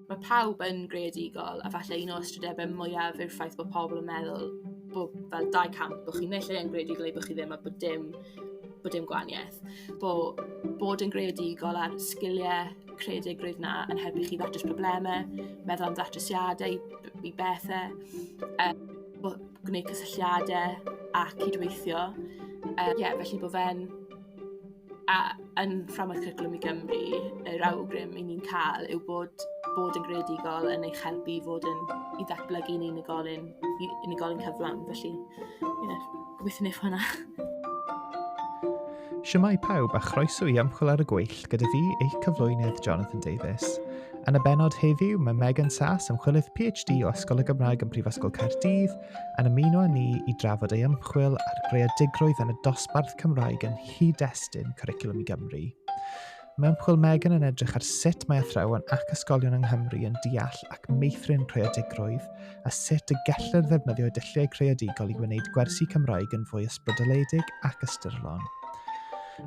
Mae pawb yn greadigol, a falle un o'r ystrydebau mwyaf yw'r ffaith bod pobl yn meddwl bod fel dau camp, bod chi'n neu lle yn greadigol neu bod chi ddim, a bod dim, bod dim gwaniaeth. Bod, bod yn greadigol a'r sgiliau creadigrwydd na yn helpu chi ddatrys problemau, meddwl am ddatrysiadau i, i bethau, um, bod, gwneud cysylltiadau a cydweithio. Um, yeah, felly bod fe'n A yn Fframwaith Cwricwlwm i Gymru, yr awgrym 'y ni'n cael yw bod bod yn greadigol yn eich helpu i fod yn... i ddatblygu'n unigolyn, i unigolyn cyflawn. Felly, ie, gobeithio wneith hwnna. Shwmae pawb a chroeso i Ymchwil ar y Gweill gyda fi, eich cyflwynydd Jonathan Davies. Yn y benod heddiw, mae Megan Sass, ymchwilydd PhD o Ysgol y Gymraeg yn Prifysgol Caerdydd, yn ymuno â ni i drafod ei ymchwil ar greadigrwydd yn y dosbarth Cymraeg yn cyd-destun Cwricwlwm i Gymru. Mae ymchwil Megan yn edrych ar sut mae athrawon ac ysgolion yng Nghymru yn deall ac meithrin creadigrwydd a sut y gellir ddefnyddio dulliau creadigol i wneud gwersi Cymraeg yn fwy ysbrydoledig ac ystyrlon.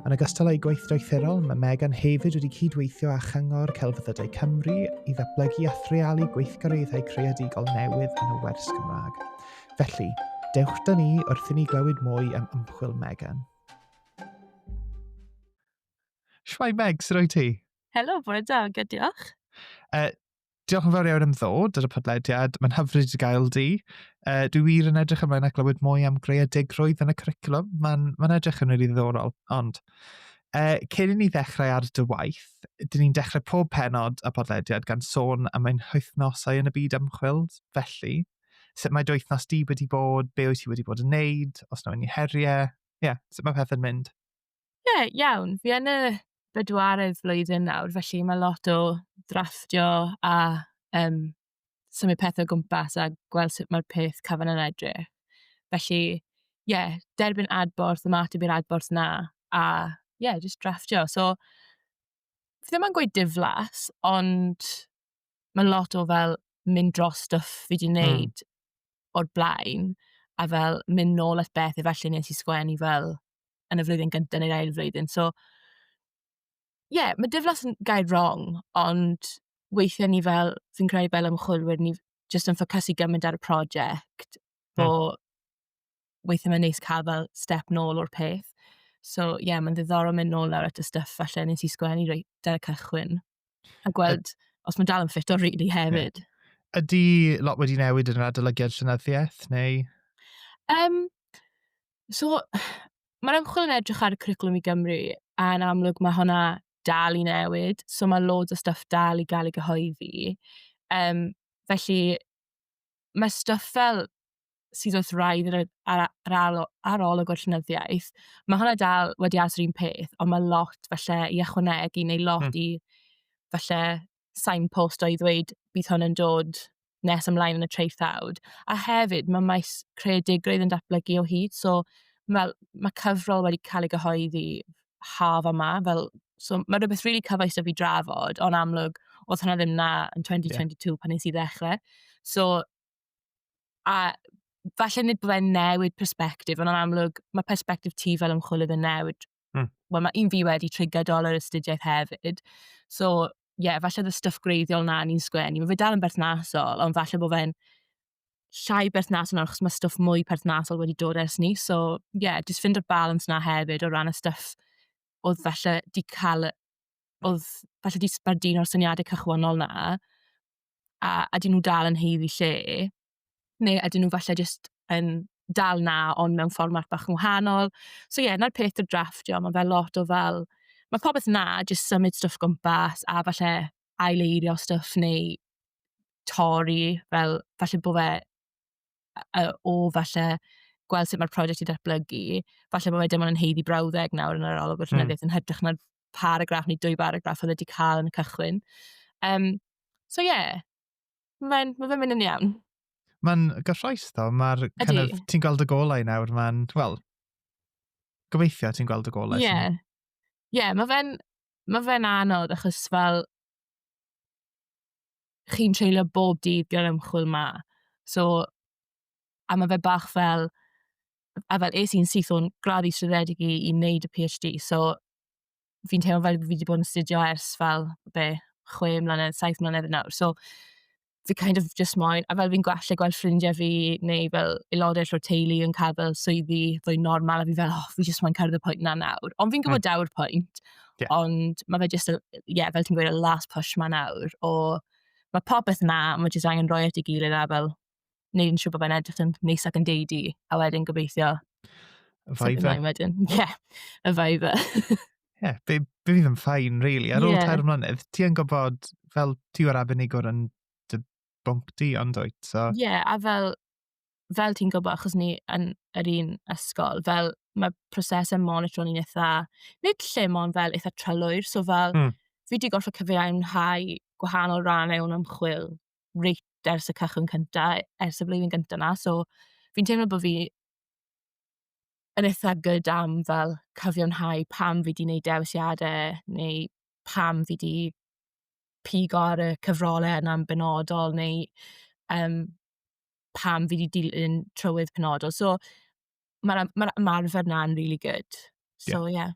Yn ogystal â'i gwaith doethurol, mae Megan hefyd wedi cydweithio â Chyngor Celfyddydau Cymru i ddatblygu a threalu gweithgareddau creadigol newydd yn y wers Gymraeg. Felly, dewch da ni wrth i ni glywed mwy am ymchwil Megan. Shwai Meg, sut o'i ti? Helo, bore da, good diolch. Uh, diolch yn fawr iawn am ddod ar y podlediad. Mae'n hyfryd i gael di. Uh, dwi wir yn edrych ymlaen ac glywed mwy am greadigrwydd yn y cwricwlwm. Mae'n ma edrych yn rili ddiddorol. Ond, uh, cyn i ni ddechrau ar dy waith, dyn ni'n dechrau pob penod a podlediad gan sôn am ein hythnosau yn y byd ymchwil. Felly, sut mae dy wythnos di wedi bod, be wyt ti wedi bod yn neud, os na unrhyw heriau, ie, yeah, sut mae pethau'n mynd? Ie, yeah, iawn. Fi yn y bedwaredd flwyddyn nawr, felly mae lot o ddrafftio a um, symud pethau o gwmpas a gweld sut mae'r peth cyfan yn edrych. Felly, ie, yeah, derbyn adborth, ymateb i'r adborth na, a ie, yeah, just drafftio. So, fi ddim yn gweud diflas, ond mae lot o fel mynd dros stuff fi di wneud mm. o'r blaen, a fel mynd nôl at beth efallai nes i sgwennu fel yn y flwyddyn gyntaf neu'r ail flwyddyn. So, ie, yeah, mae diflas yn gair wrong, ond weithiau ni fel, fi'n credu fel ymchwilwyr, ni jyst yn ffocysu gymaint ar y prosiect, hmm. bo mm. weithiau mae'n neis cael fel step nôl o'r peth. So, ie, yeah, mae'n ddiddorol mynd nôl lawr at y stuff falle nes i sgwennu reit ar y cychwyn. A gweld os mae'n dal yn ffit o rili hefyd. Yeah. Ydy lot wedi newid yn yr adolygiad llenyddiaeth, neu? Um, so, mae'r ymchwil yn edrych ar y curriculum i Gymru, a yn amlwg mae hwnna dal i newid, so mae loads o stuff dal i gael ei gyhoeddi. Um, felly, mae stuff fel sydd wrth wraidd yr ar yr aro- arolwg o'r llenyddiaeth, mae hwnna dal wedi aros yr un peth, ond mae lot falle i ychwanegu neu lot... mm. ...i falle signpost o i ddweud bydd hwn yn dod nes ymlaen yn y traethawd. A hefyd, mae maes creadigrwydd yn datblygu o hyd, so fel mae cyfrol wedi cael ei gyhoeddi haf yma, fel so mae rhywbeth rili really cyfoes 'da fi drafod, ond amlwg oedd hwnna ddim 'na yn 2022 yeah. pan nes i ddechrau. So A falle nid byddai'n newid perspektif, ond yn amlwg, mae perspektif ti fel ymchwilydd yn newid. Mm. Wel, mae un fi wedi trigger dolar astudiaeth hefyd. So, ie, yeah, falle dy stuff greiddiol na ni'n sgwennu. Mae fe dal yn berthnasol, ond falle bod fe'n llai berthnasol nawr, achos mae stuff mwy perthnasol wedi dod ers ni. So, ie, yeah, jyst ffindo'r balans na hefyd o ran y stuff oedd falle di cael, oedd falle di sbardun o'r syniadau cychwannol na, a ydyn nhw dal yn haeddu lle, neu ydyn nhw falle jyst yn dal 'na ond mewn fformat bach yn wahanol. So ie, 'na'r peth 'da drafftio, ma' fe lot o fel, ma' popeth 'na, jyst symud stwff o gwmpas a falle ail-eirio stwff neu torri fel, falle bo' fe yy yy o falle gweld sut ma'r prosiect 'di datblygu, falle bo' fe dim ond yn haeddu brawddeg nawr yn yr arolwg... mm. ...a llenyddiaeth yn hytrach na paragraff neu dwy baragraff oedd wedi cael yn y cychwyn. Um, so ie, yeah, mae'n ma fe mynd yn iawn. Mae'n gyffroes ddo, mae'r kind of, ti'n gweld y golau nawr, mae'n, wel, gobeithio ti'n gweld y golau. Ie, yeah. ie, yeah, mae fe'n ma fe anodd achos fel, chi'n treulio bob dydd gyda'r ymchwil ma. So, a mae fe bach fel, a fel es i'n syth o'n gradd i trwyddedig i i wneud y PhD, so fi'n teimlo fel fi wedi bod yn astudio ers fel, be, chwe mlynedd, saith mlynedd yn awr. So, fi kind of jyst moyn a fel fi'n gweld gallu gweld ffrindiau fi neu fel aelodau eraill o'r teulu yn cael fel swyddi fwy normal a fi fel, "O, fi jyst moyn cyrraedd y pwynt 'na nawr." Ond fi'n gwybod... mm. ...daw'r pwynt... Ie. ...ond ma' fe jyst y, ie, fel ti'n gweud, y last push 'ma nawr o ma' popeth 'na, ma' jyst angen rhoi e at ei gilydd a fel neud yn siŵr bod fe'n edrych yn neis ac yn deud i, a wedyn gobeithio... Y vibe. Wedyn, ie, yeah, y vibe. Ie, yeah, be, be fydd yn ffain, really. Ar ôl yeah. tair mlynedd, ti yn gwybod, fel ti o'r arbenigwr yn dy bwnc di, ond dwyt, so... Ie, yeah, a fel, fel ti'n gwybod, achos ni yn yr un ysgol, fel mae prosesau monitro ni'n eitha, nid lle mon fel eitha trylwyr, so fel, mm. fi wedi gorfod cyfeirhau gwahanol rannau o'n ymchwil reit ers y cychwyn cynta, ers y flwyddyn gynta 'na, so fi'n teimlo bod fi yn eitha good am fel cyfiawnhau pam fi 'di wneud dewisiadau, neu pam fi 'di pigo ar y cyfrolau yna'n benodol, neu yym pam fi 'di dilyn trywydd penodol. So ma'r am- ma'r ymarfer 'na'n rili good. Ie. So ie.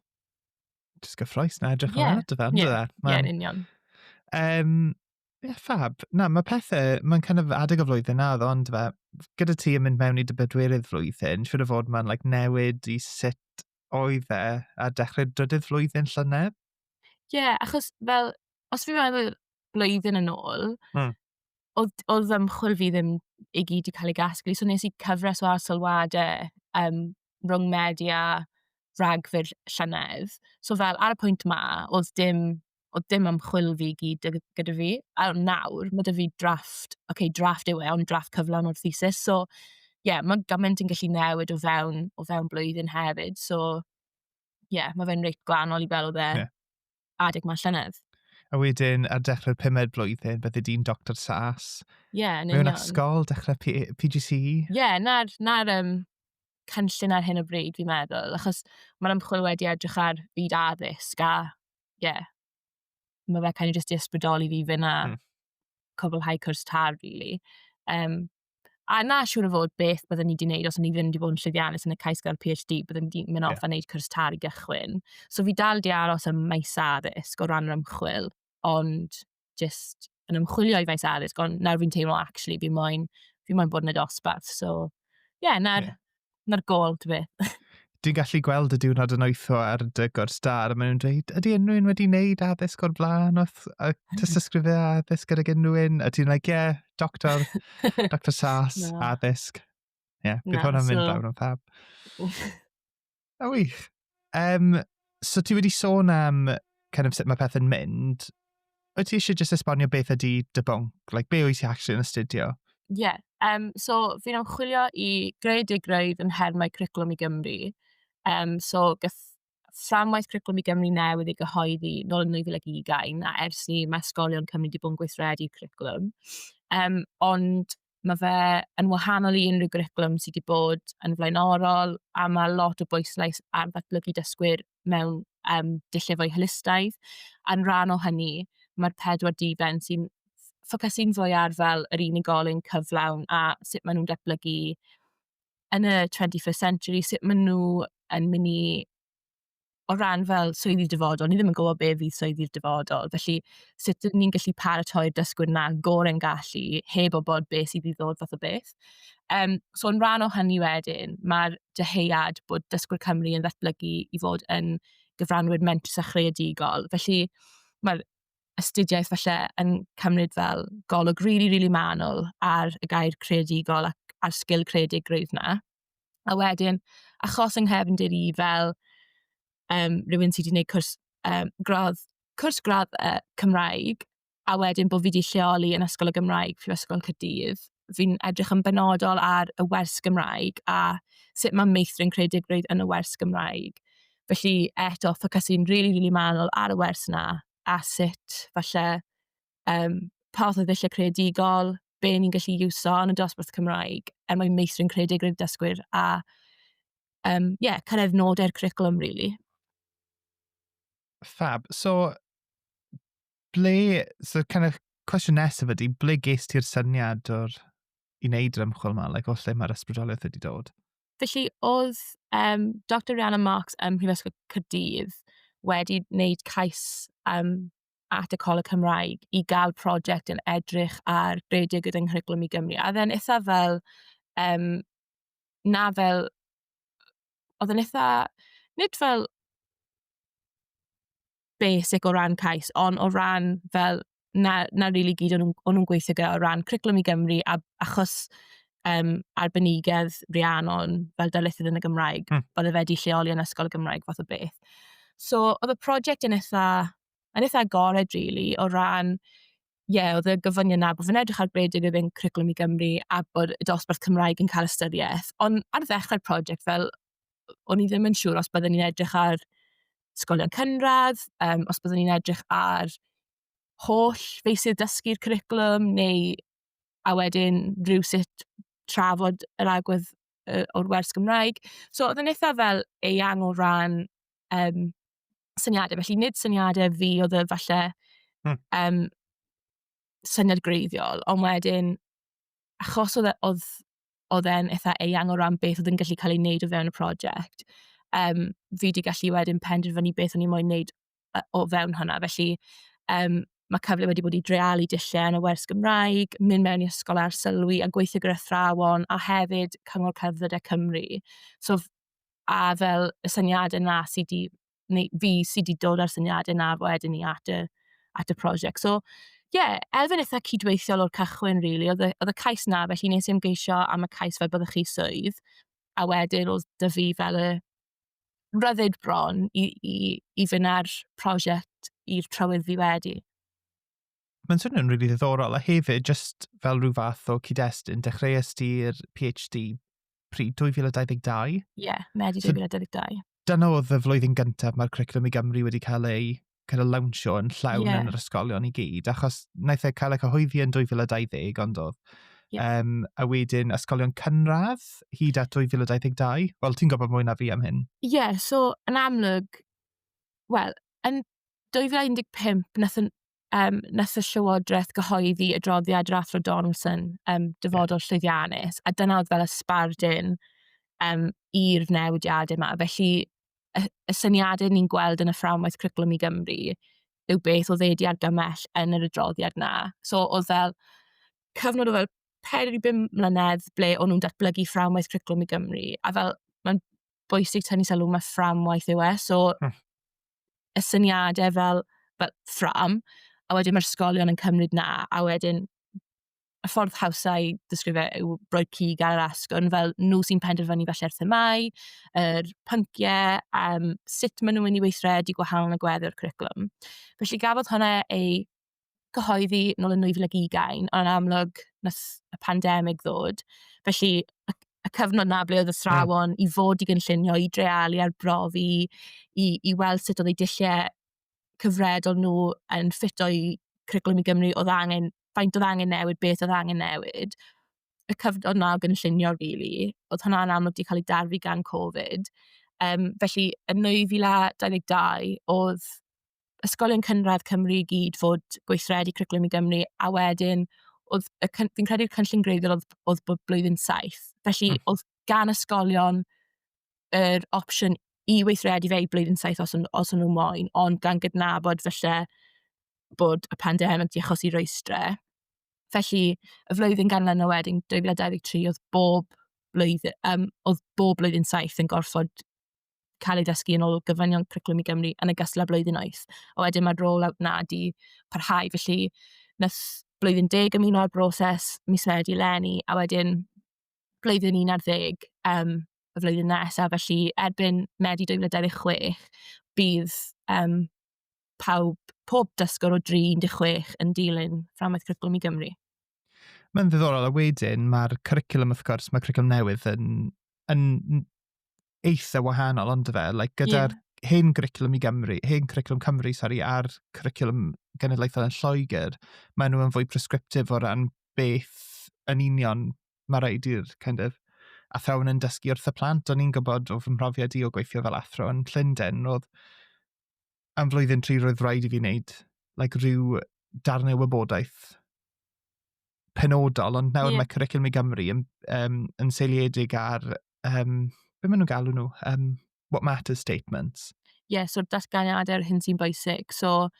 Jyst gyffrous na edrych Ie. ymlaen ato fe, Ie. yndyw e? Ie, yn union. Yym, Ie, fab. Na, mae pethe... Mae'n kind of adeg o flwyddyn nawr, ond fe... gyda ti yn mynd mewn i dy bedwerydd flwyddyn, siŵr o fod mae'n like newid i sut oedd e ar dechrau'r drydydd flwyddyn llynedd? Ie, yeah, achos fel, os fi'n meddwl blwyddyn yn ôl, mm. oedd, oedd fy mchwil fi ddim i gyd i cael ei gasglu, so nes i cyfres o arsylwadau um, rhwng Medi a Rhagfyr llynedd. So fel, ar y pwynt ma, oedd dim oedd dim ymchwil fi i gyd gyda gyda fi. A nawr, ma' 'da fi drafft, ocê, drafft yw e, ond drafft cyflawn o'r thesis. So, ie, ma' gymaint yn gallu newid o fewn o fewn blwyddyn hefyd. So, ie, ma' fe'n reit gwahanol i fel oedd e... Ie. ...adeg 'ma llynedd. A wedyn, ar dechrau'r pumed blwyddyn, bydde di'n Doctor Sas. Ie, yn union. Mewn ysgol, dechrau P- PGCE. Ie, 'na'r 'na'r yym cynllun ar hyn o bryd fi'n meddwl, achos ma'r ymchwil wedi edrych ar fyd addysg a ie, mae fe kind of jyst 'di ysbrydoli fi i fynd a... mm. ...cwblhau cwrs TAF rili. Yym, a na siŵr o fod beth byddwn ni wedi gwneud os o'n i ddim wedi bod yn llwyddiannus yn y cais gael PhD, byddwn ni wedi mynd off yeah. a wneud cwrs TAF i gychwyn. So fi dal 'di aros ym maes addysg o ran yr ymchwil, ond jyst yn ymchwilio i faes addysg, ond nawr fi'n teimlo acshyli fi moyn fi moyn bod yn y dosbarth. So ie, 'na'r 'na'r gôl ta beth. Dwi'n gallu gweld y diwrnod yn oetho ar dy gwrs da, a maen nhw'n dweud, ydy unrhyw un wedi wneud addysg o'r blaen wrth y tystysgrifau addysg gydag unrhyw un? A ti'n like, ie, yeah, doctor, doctor sas, no. addysg. Ie, yeah, bydd no, hwnna'n mynd so... lawr yn fab. A wych. Um, so ti wedi sôn am kind of sut mae pethau'n mynd. O ti eisiau just esbonio beth ydy dy bonc? Like, be wyt ti actually yn astudio? Ie, yeah, um, so fi'n ymchwilio i greu digraidd yn nhermau cwricwlwm i Gymru. Um, so gath fframwaith cwricwlwm i Gymru newydd ei gyhoeddi nôl yn 2020, a ers ni mae ysgolion Cymru wedi bod yn gweithredu cwricwlwm. Um, ond Mae fe yn wahanol i unrhyw gwricwlwm sydd wedi bod yn flaenorol, a mae lot o bwyslais ar ddatblygu dysgwyr mewn um, dulliau fwy holistaidd. A'n rhan o hynny, mae'r pedwar diben sy'n ffocysu'n fwy ar fel yr unigolyn cyflawn a sut maen nhw'n datblygu yn y 21st century, sut maen nhw yn mynd i o ran fel swyddi dyfodol, ni ddim yn gwybod be fydd swyddi'r dyfodol. Felly, sut dyn ni'n gallu paratoi'r dysgwyr na gorau'n gallu, heb o bod beth sydd i ddod fath o beth. Um, so, yn rhan o hynny wedyn, mae'r dyheuad bod dysgwyr Cymru yn ddatblygu i fod yn gyfranwyr mentrus a chreadigol. Felly, mae'r astudiaeth falle yn cymryd fel golwg rili, really, rili really manwl ar y gair creadigol ac a'r sgil creadigrwydd yna. A wedyn, achos yng nghefndir i fel um, rhywun sydd wedi gwneud cwrs, um, gradd, cwrs gradd uh, Cymraeg, a wedyn bod fi wedi lleoli yn Ysgol y Gymraeg, Prifysgol Cydydd, fi'n edrych yn benodol ar y wers Gymraeg a sut mae meithrin creadigrwydd yn y wers Gymraeg. Felly, eto, ffocysu'n rili, really, rili really manwl ar y wers yna a sut, falle, um, pa fath o ddulliau creadigol, be ni'n gallu iwso yn y dosbarth Cymraeg er mwyn meithrin creadigrwydd dysgwyr a um, yeah, cyrraedd nodau'r curriculum, really. Fab. So, ble, so kind of cwestiwn nesaf ydy, ble ges ti'r syniad o'r i wneud yr ymchwil yma, like, o lle mae'r ysbrydoliaeth wedi dod? Felly, oedd um, Dr Rihanna Marks ym Mhrifysgol Cyrdydd wedi wneud cais um, at y Coleg Cymraeg i gael prosiect yn edrych ar rhedeg gyda nghwricwlwm i Gymru. A oedd e'n eitha fel, um, na fel, oedd e'n eitha, nid fel basic o ran cais, ond o ran fel, na, na rili really gyd o'n nhw'n nhw gweithio gyda o ran cwricwlwm i Gymru, a, achos um, arbenigedd Rhiannon fel darlithydd yn y Gymraeg. Mm. Oedd e wedi lleoli yn ysgol y Gymraeg fath o beth. So, oedd y prosiect yn eitha, yn eitha agored, really, o ran ie, yeah, oedd y gyfynion na bod fi'n edrych ar beth yw fe'n cwricwlwm i Gymru a bod y dosbarth Cymraeg yn cael ystyriaeth. Ond ar ddechrau'r prosiect, fel, o'n i ddim yn siŵr os byddwn ni'n edrych ar sgolion cynradd, um, os byddwn ni'n edrych ar holl feisydd dysgu'r cwricwlwm neu a wedyn rhywsut trafod yr agwedd yy o'r wers Gymraeg. So oedd yn eitha fel eang o ran um, syniadau. Felly nid syniadau fi oedd y falle hmm. um, syniad greiddiol, ond wedyn, achos oedd, e, oedd, oedd e'n eitha eang o ran beth oedd yn gallu cael ei wneud o fewn y prosiect, um, fi wedi gallu wedyn penderfynu beth o'n i'n moyn wneud yy, o fewn hwnna. Felly, um, mae cyfle wedi bod i drealu dulliau yn y wers Gymraeg, mynd mewn i ysgol ar sylwi a gweithio gyda thrawon, a hefyd Cyngor Cerdded e Cymru. So, a fel y syniadau yna sydd wedi, neu fi sydd wedi dod â'r syniadau yna wedyn ni at y, at y prosiect. So, ie, yeah, elfen eitha cydweithiol o'r cychwyn, rili. Really. Oedd, oedd y cais na, felly nes i ymgeisio am y cais fel byddwch chi swydd. A wedyn oedd dy fi fel y rhyddid bron i, i, i fynd ar prosiect i'r trywydd fi wedi. Mae'n swnio'n rili really ddiddorol, a hefyd, just fel rhyw fath o cyd-destun, dechreuais ti'r PhD pryd 2022? Ie, yeah, Medi 2022. So, dyna oedd y flwyddyn gyntaf mae'r Cwricwlwm i Gymru wedi cael ei kind of lawnsio yn llawn yeah. yn yr ysgolion i gyd, achos wnaeth e cael y cyhoeddi yn 2020, ond oedd. Yeah. Um, a wedyn ysgolion cynradd hyd at 2022. Wel, ti'n gwybod mwy na fi am hyn. Ie, yeah, so yn amlwg, wel, yn 2015, nath, um, nath y Llywodraeth gyhoeddi y droddiad Rathro Donaldson, um, dyfodol yeah. llwyddiannus, a dyna oedd fel y sbardun um, i'r newidiadau yma. Felly, y, y syniadau ni'n gweld yn y fframwaith cwricwlwm i Gymru yw beth oedd wedi argymell yn yr adroddiad na. So oedd fel cyfnod o fel 4 i 5 mlynedd ble o'n nhw'n datblygu fframwaith cwricwlwm i Gymru. A fel, mae'n bwysig tynnu sylw mae fframwaith yw e. So, hmm. y syniadau fel, fel ffram, a wedyn mae'r ysgolion yn cymryd na, a wedyn y ffordd hawsa i ddysgrifio e yw rhoi cig ar yr asgwrn, fel nhw sy'n penderfynu falle'r themâu, yr pynciau, um, sut maen nhw'n mynd i weithredu gwahanol yn y gweddill o'r cwricwlwm. Felly gafodd hwnna ei cyhoeddi nôl yn 2020, ond amlwg nath y pandemig ddod. Felly, y, y cyfnod na ble oedd y thrawon mm. i fod i gynllunio, i drealu ar brofi, i, i weld sut oedd ei dilliau cyfredol nhw yn ffito i Cwricwlwm i Gymru, oedd angen... faint oedd angen newid, beth oedd angen newid. Y cyfnod 'na o gynllunio rili, oedd hwnna'n amlwg 'di cael ei darfu gan Covid. Yym, felly yn 2022, oedd ysgolion cynradd Cymru i gyd fod gweithredu Cwricwlwm i Gymru, a wedyn oedd y cyn- fi'n credu'r cynllun gwreiddiol oedd oedd bod blwyddyn saith. Felly... Hmm. ...oedd gan ysgolion yr opsiwn i weithredu fe i blwyddyn saith os o'n os o'n nhw moyn, ond gan gydnabod falle bod y pandemig 'di achosi rwystre. Felly, y flwyddyn ganlyn o wedyn, 2023, oedd bob blwyddyn, yym, oedd bob blwyddyn saith yn gorfod cael ei ddysgu yn ôl gyfranion Cwricwlwm i Gymru yn ogystal â blwyddyn wyth. A wedyn mae'r roll-out 'na 'di parhau, felly wnaeth blwyddyn deg ymuno â'r broses mis Medi eleni, a wedyn blwyddyn 11 um, y flwyddyn nesaf, felly erbyn Medi 2026 bydd um, pawb, pob dysgwr o 36 yn dilyn fframwaith cwricwlwm i Gymru. Mae'n ddiddorol, a wedyn mae'r cwricwlwm, wrth gwrs, mae cwricwlwm newydd yn, yn eitha wahanol, ond fe, like, gyda'r yeah. hen gryclwm i Gymru, hen cwricwlwm Cymru, sori, a'r cwricwlwm genedlaethol yn Lloegr, maen nhw yn fwy prescriptif o ran beth yn union mae rhaid i'r kind of, athrawon yn dysgu wrth y plant. O'n i'n gwybod o fy mhrofiad i o gweithio fel athro yn Llundain, roedd am flwyddyn tri roedd rhaid i fi wneud like, rhyw darnau wybodaeth penodol, ond nawr yeah. mae Cwricwlwm i Gymru yn, um, yn seiliedig ar, um, beth maen nhw'n galw nhw, um, what matters statements. Ie, yeah, so datganiadau ar hyn sy'n bwysig. So,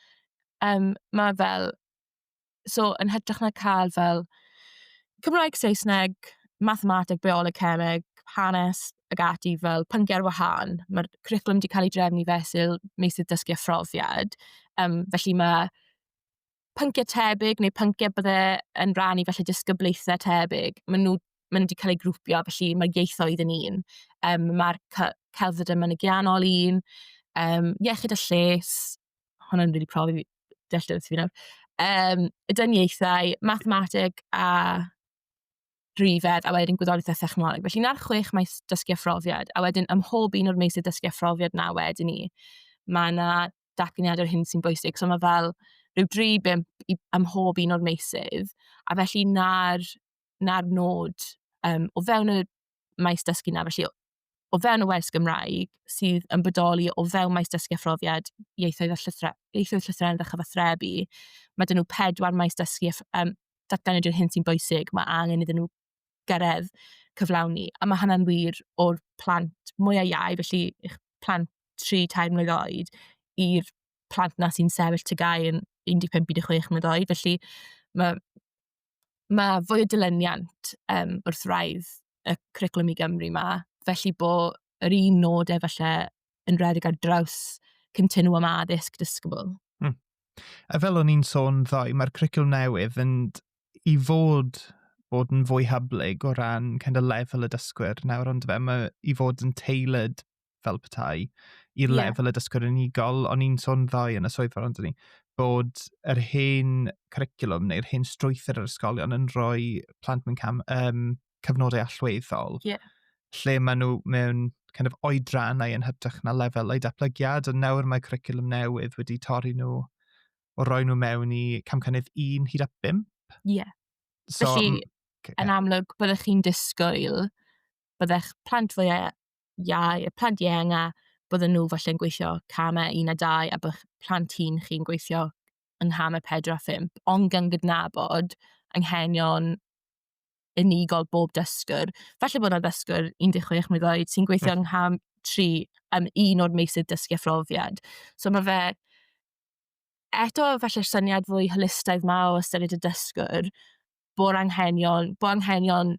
um, mae fel, so yn hytrach na cael fel Cymraeg, Saesneg, mathemateg, bioleg, cemeg, hanes ag ati fel pynciau ar wahan. Mae'r cwricwlwm wedi cael ei drefnu fesul meysydd dysgu a phrofiad. Um, felly mae pynciau tebyg neu pynciau bydde yn rhan i felly disgyblaethau tebyg, maen nhw, maen nhw wedi cael eu grwpio, felly mae'r ieithoedd yn un. Um, mae'r celfydd yn mynygiannol un, um, iechyd a lles, hwnna'n rili really profi fi, dealltwriaeth fi nawr, um, y dyniaethau, mathemateg a drifedd, a wedyn gwyddoriaeth a thechnoleg. Felly na'r chwech maes dysgu a phrofiad, a wedyn ym mhob un o'r meysydd dysgu a phrofiad na wedyn ni, mae yna datganiad o'r hyn sy'n bwysig. So mae fel rhyw dri bimp i, am hob un o'r meisydd. A felly na'r, na'r nod um, o fewn y maes dysgu na, felly o fewn y wers Gymraeg sydd yn bodoli o fewn maes dysgu a phrofiad ieithoedd a llythre, ieithoedd llythrennedd a chyfathrebu. Mae dyn nhw pedwar maes dysgu a um, datganiad o'r hyn sy'n bwysig. Mae angen iddyn nhw gyrraedd cyflawni. A mae hynna'n wir o'r plant mwya' iau, felly eich plant tri, tair mlwydd oed, i'r plant 'na sy'n sefyll TGAU yn 15, 16 mlwydd oed. Felly ma' ma' fwy o dilyniant, yym, wrth wraidd y Cwricwlwm i Gymru 'ma. Felly bod yr un nod e falle yn redeg ar draws continwwm addysg disgybl. Hmm. A fel o'n i'n sôn ddoe, mae'r cwricwlwm newydd yn i fod bod yn fwy hyblyg o ran kind of lefel y dysgwyr nawr ond fe mae i fod yn tailored fel petai i'r yeah. lefel y dysgwyr unigol o'n i'n sôn ddoe yn y swyddfa ond ni bod yr hen curriculum neu'r hen strwythyr yr ysgolion yn rhoi plant mewn cam, um, cyfnodau allweddol yeah. lle maen nhw mewn kind of oedrannau yn hytrach na lefelau datblygiad ond nawr mae curriculum newydd wedi torri nhw o roi nhw mewn i camcynnydd 1 hyd at 5. Ie. Yeah. So, Felly, yn amlwg, byddech chi'n disgwyl, byddech plant fwy iau, y plant ieng a bydden nhw falle'n gweithio camau 1 a 2 a byddech plant hun chi'n gweithio yng nghamau 4 a 5, ond gan gydnabod anghenion unigol bob dysgwr. Felly bod yna ddysgwr 16 mlynedd oed sy'n gweithio yng ngham 3 am un o'r meysydd dysgu a phrofiad. So mae fe eto falle'r syniad fwy holistaidd 'ma o ystyried y dysgwr, bod anghenion, bod anghenion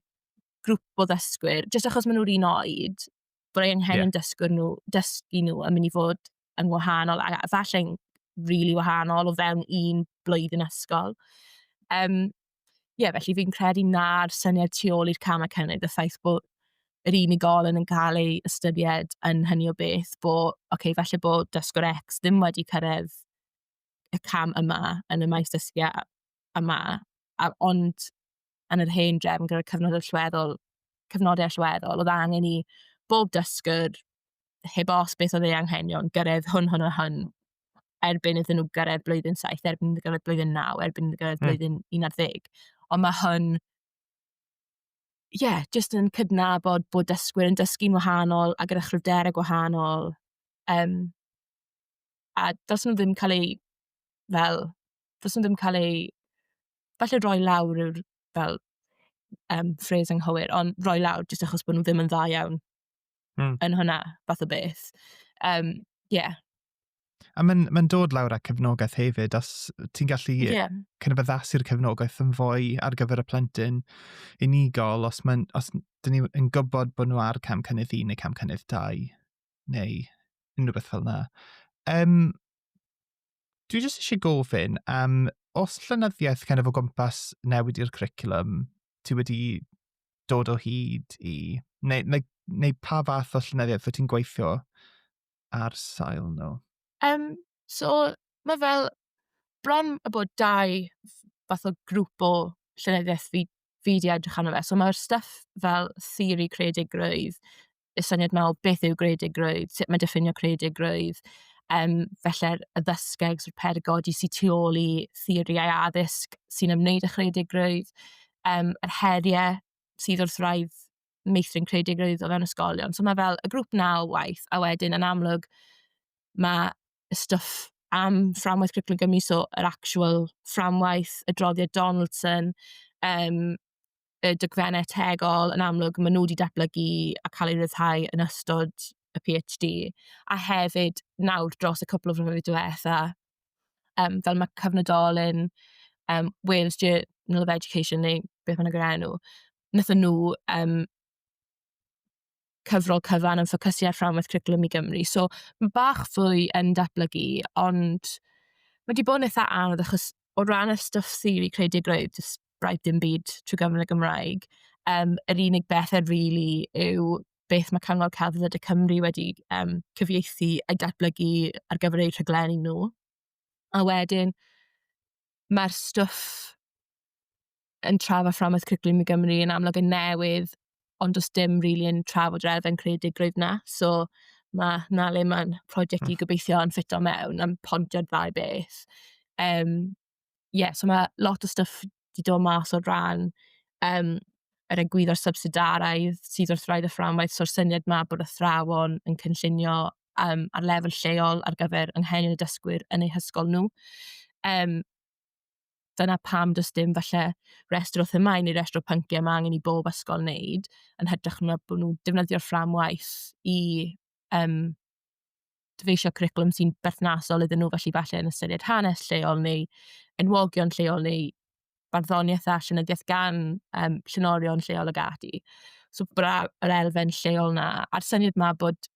grŵp o ddysgwyr, jyst achos maen nhw'r un oed, bod ei anghenion yeah. dysgwr nhw, dysgu nhw yn mynd i fod yn wahanol, a falle'n rili really wahanol o fewn un blwyddyn ysgol. Um, Ie, felly fi'n credu na'r syniad tu ôl i'r camau cynnydd, y ffaith bod yr unigolyn yn cael ei ystyried yn hynny o beth, bod, oce, okay, falle bod dysgwr X ddim wedi cyrraedd y cam yma yn y maes dysgu a- yma, a, ond yn yr hen drefn gyda'r cyfnod allweddol, cyfnodau allweddol, oedd angen i bob dysgwr heb os beth oedd ei anghenion, gyrraedd hwn, hwn a hwn, erbyn iddyn nhw gyrraedd blwyddyn 7, erbyn iddyn nhw gyrraedd blwyddyn 9, erbyn iddyn nhw gyrraedd mm. blwyddyn 11. Ond mae hwn, ie, yeah, jyst yn cydnabod bod dysgwyr yn dysgu'n wahanol a gyda chryfderau gwahanol. Um, a dos nhw ddim cael ei, fel, dos nhw ddim cael ei, falle roi lawr yw'r, fel, um, ffres anghywir, ond roi lawr jyst achos bod nhw ddim yn dda iawn mm. yn hwnna, fath o beth. Um, yeah. A mae'n ma dod lawr â cefnogaeth hefyd, os ti'n gallu yeah. cynnybyddasu'r cefnogaeth yn fwy ar gyfer y plentyn unigol, os, mae, os dyn ni'n gwybod bod nhw ar cam cynnydd un neu cam cynnydd dau, neu unrhyw beth fel yna. Um, dwi jyst eisiau gofyn am, um, os llynyddiaeth kind of o gwmpas newid i'r cwricwlwm, ti wedi dod o hyd i? Neu, neu, neu pa fath o llenyddiaeth fy ti'n gweithio ar sail nhw? Um, so, mae fel bron y bod dau fath o grŵp o llenyddiaeth fi, fi di edrych arno fe. So mae'r stuff fel theori creadigrwydd, y syniad yma o beth yw greadigrwydd, sut mae diffinio creadigrwydd, um, felly'r addysgeg, so'r perygodi sy'n tu ôl i theoriau addysg sy'n ymwneud â chreadigrwydd, um, yr heriau sydd wrth raidd meithrin creadigrwydd o fewn ysgolion. So mae fel y grŵp na o waith, a wedyn yn amlwg mae y stwff am fframwaith Cwricwlwm Gymru, so yr actual fframwaith, y droddiad Donaldson, um, y dogfennau tegol, yn amlwg, maen nhw wedi datblygu a cael eu rhyddhau yn ystod y PhD, a hefyd nawr dros y cwpl o flynyddoedd diwetha, um, fel mae cyfnodolyn um, Wales Journal of Education neu beth mae'n gyda'r enw, wnaethon nhw um, cyfrol cyfan yn ffocysu ar fframwaith Cwricwlwm i Gymru. So, mae bach fwy yn datblygu, ond mae wedi bod yn eitha anodd achos o ran y stwff theori creadigrwydd, jyst braidd dim byd trwy gyfrwng y Gymraeg. Um, yr unig bethau rili really yw beth mae Cyngor Celfyddyd y Cymru wedi um, cyfieithu a datblygu ar gyfer eu rhaglenni nhw. A wedyn, mae'r stwff yn trafod fframwaith cwricwlwm i Gymru yn amlwg yn newydd, ond does dim rili yn trafod yr elfen creadigrwydd 'na. So, ma' 'na le ma'n project i hmm. gobeithio yn ffito mewn, a'n pontio'r ddau beth. Um, yeah, so mae lot o stuff 'di dod mas o ran um, yr egwyddor subsidaraidd sydd wrth rhaid y fframwaith, so'r syniad 'ma bod athrawon yn cynllunio um, ar lefel lleol ar gyfer anghenion y dysgwyr yn eu hysgol nhw. Um, dyna pam does dim falle restr o themau neu restr o pynciau mae angen i bob ysgol wneud, yn hytrach na bod nhw'n defnyddio'r fframwaith i um, dyfeisio cwricwlwm sy'n berthnasol iddyn nhw, felly falle yn ystyried hanes lleol neu enwogion lleol neu barddoniaeth a llenyddiaeth gan um, llenorion lleol ag ati. So bra yr elfen lleol na, a'r syniad ma bod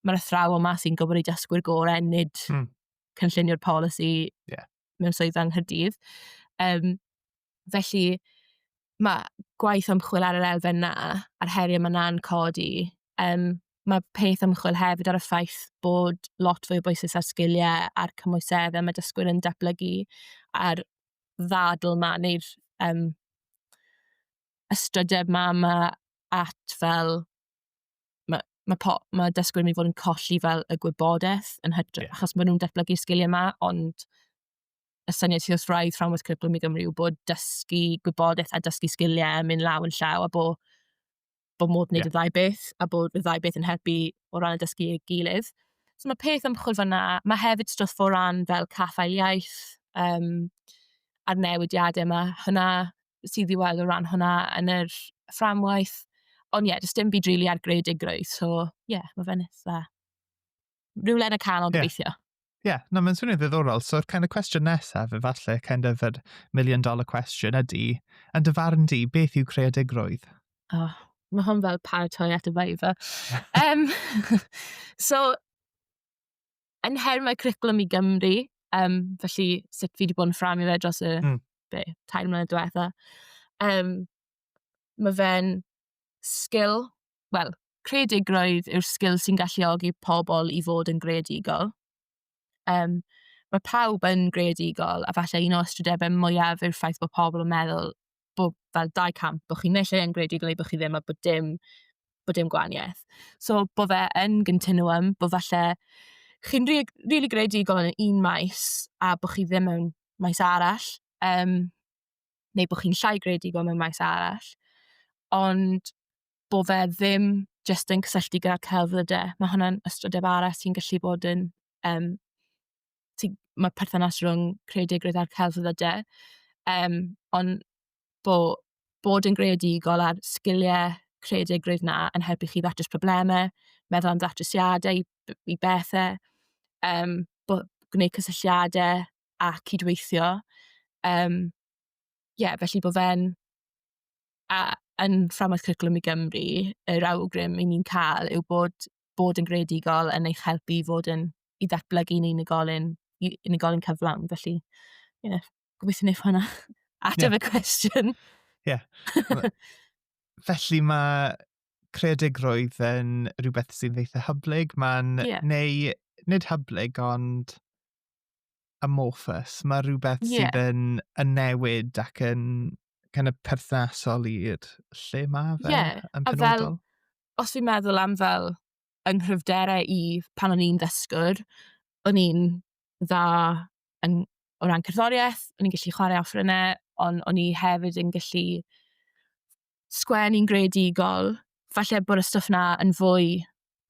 mae'r athrawon yma sy'n gwybod i dysgwyr gorau, nid mm. cynllunio'r polisi yeah. mewn swydd yng Nghyrdydd. Um, felly, mae gwaith ymchwil ar yr elfen na, a'r heriau mae na'n codi. Um, mae peth ymchwil hefyd ar y ffaith bod lot fwy o bwysau ar sgiliau a'r cymwyseddau mae dysgwyr yn datblygu a'r ddadl ma neu'r um, ystrydeb ma yma at fel mae ma po- ma' dysgwyr yn mynd i fod yn colli fel y gwybodaeth yn hytrach... Ie. ...achos maen nhw'n datblygu'r sgiliau 'ma, ond y syniad sy wrth wraidd fframwaith Cwricwlwm i Gymru yw bod dysgu gwybodaeth a dysgu sgiliau yn mynd law yn llaw a bod bod modd gwneud... Ie. ...y ddau beth a bod y ddau beth yn helpu o ran y dysgu ei gilydd. So mae peth ymchwil fan'na. Mae hefyd stwff o ran fel caffael iaith, yym, a'r newidiadau 'ma. Hwnna... sydd i weld o ran hwnna yn yr fframwaith. Ond ie, does dim byd rili ar greadigrwydd, so ie, yeah, mae fe'n eitha... Rhywle yn y canol yeah. gobeithio. Ie, yeah, no, mae'n swnio'n ddiddorol. So'r kind of cwestiwn nesaf, efallai, kind of yr million dollar question ydy, yn dy farn di, beth yw creadigrwydd? Oh, mae hwn fel paratoi at y faifa. um, so, yn her mae cwricwlwm i Gymru, um, felly sut fi wedi bod yn ffram i fe dros y mm. be, tair mlynedd diwetha. Um, mae fe'n sgil, wel, creadigrwydd yw'r sgil sy'n galluogi pobl i fod yn greadigol. Um, mae pawb yn greadigol, a falle un o ystrydebau mwyaf yw'r ffaith bod pobl yn meddwl bod fel dau camp, bod chi naill ai yn greadigol neu bod chi ddim a bod dim, bod dim gwahaniaeth. So, bod fe yn continuum, bod falle chi'n rili rili greadigol yn un maes a bod chi ddim mewn maes arall, yym, neu bod chi'n llai greadigol mewn maes arall. Ond bod fe ddim jyst yn cysylltu gyda'r celfyddydau. Mae hwnna'n ystrydeb arall sy'n gallu bod yn, yym... ti, mae perthynas rhwng creadigrwydd a'r celfyddydau. Um, ond bo, bod yn greadigol a'r sgiliau creadigrwydd na yn helpu chi ddatrys problemau, meddwl am ddatrysiadau i, i bethau, um, bo, gwneud cysylltiadau a cydweithio. Um, yeah, felly bod fe'n a yn fframwaith cwricwlwm i Gymru, yr awgrym i ni'n cael yw bod bod yn greadigol yn eich helpu i fod yn... i ddatblygu'n unigolyn, i unigolyn cyflawn. Felly, ie, yeah, gobeithio wneud hwnna. Ateb yeah. y cwestiwn. Ie. Yeah. Felly mae creadigrwydd yn rhywbeth sy'n eitha hyblyg. Mae'n... Yeah. Neu, nid hyblyg, ond amorphous. Mae rhywbeth yeah. sydd yn, yn newid ac yn kind of perthnasol i'r lle mae fe yeah. yn penodol. A fel, os fi'n meddwl am fel, fy nghryfderau i pan o'n i'n ddysgwr, o'n i'n dda yn... o ran cerddoriaeth, o'n i'n gallu chwarae offerynnau, ond o'n i hefyd yn gallu sgwennu'n greadigol. Falle bod y stwff 'na yn fwy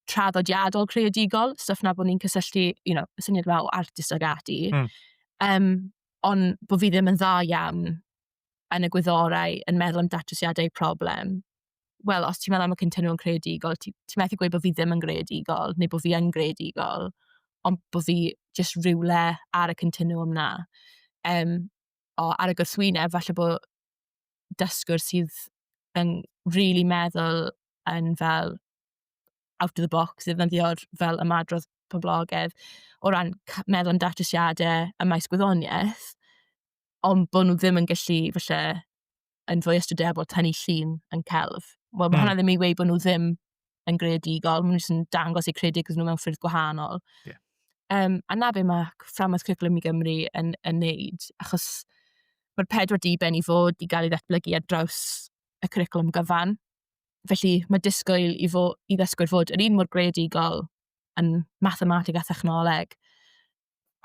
traddodiadol creadigol, stwff 'na bo' ni'n cysylltu, you know, y syniad 'ma o artist ag ati. Hmm. Yym, ond bo' fi ddim yn dda iawn yn y gwyddorau, yn meddwl am datrysiadau i problem. wel, os ti'n meddwl am y cynlluniau creadigol, ti ti methu gweud bod fi ddim yn greadigol, neu bod fi yn greadigol, ond bod fi jyst rywle ar y continwwm 'na. Yym, o, ar y gwrthwyneb, falle bo' dysgwr sydd yn rili meddwl yn fel out of the box, ddefnyddio'r fel ymadrodd poblogaidd, o ran c- meddwl am datrysiadau ym maes gwyddoniaeth, ond bo' nhw ddim yn gallu, falle... yn fwy ystrydebol tynnu llun yn celf. Wel, mae mm. hwnna ddim i weid bod nhw ddim yn greadigol, maen nhw'n dangos eu credigol nhw mewn ffyrdd gwahanol. Yeah. Um, a na be mae fframwaith cwricwlwm i Gymru yn, yn neud, achos mae'r pedwar diben i fod i gael ei ddatblygu ar draws y cwricwlwm gyfan. Felly mae disgwyl i, fo, i ddysgwyr fod yr un mor greadigol yn mathematig a thechnoleg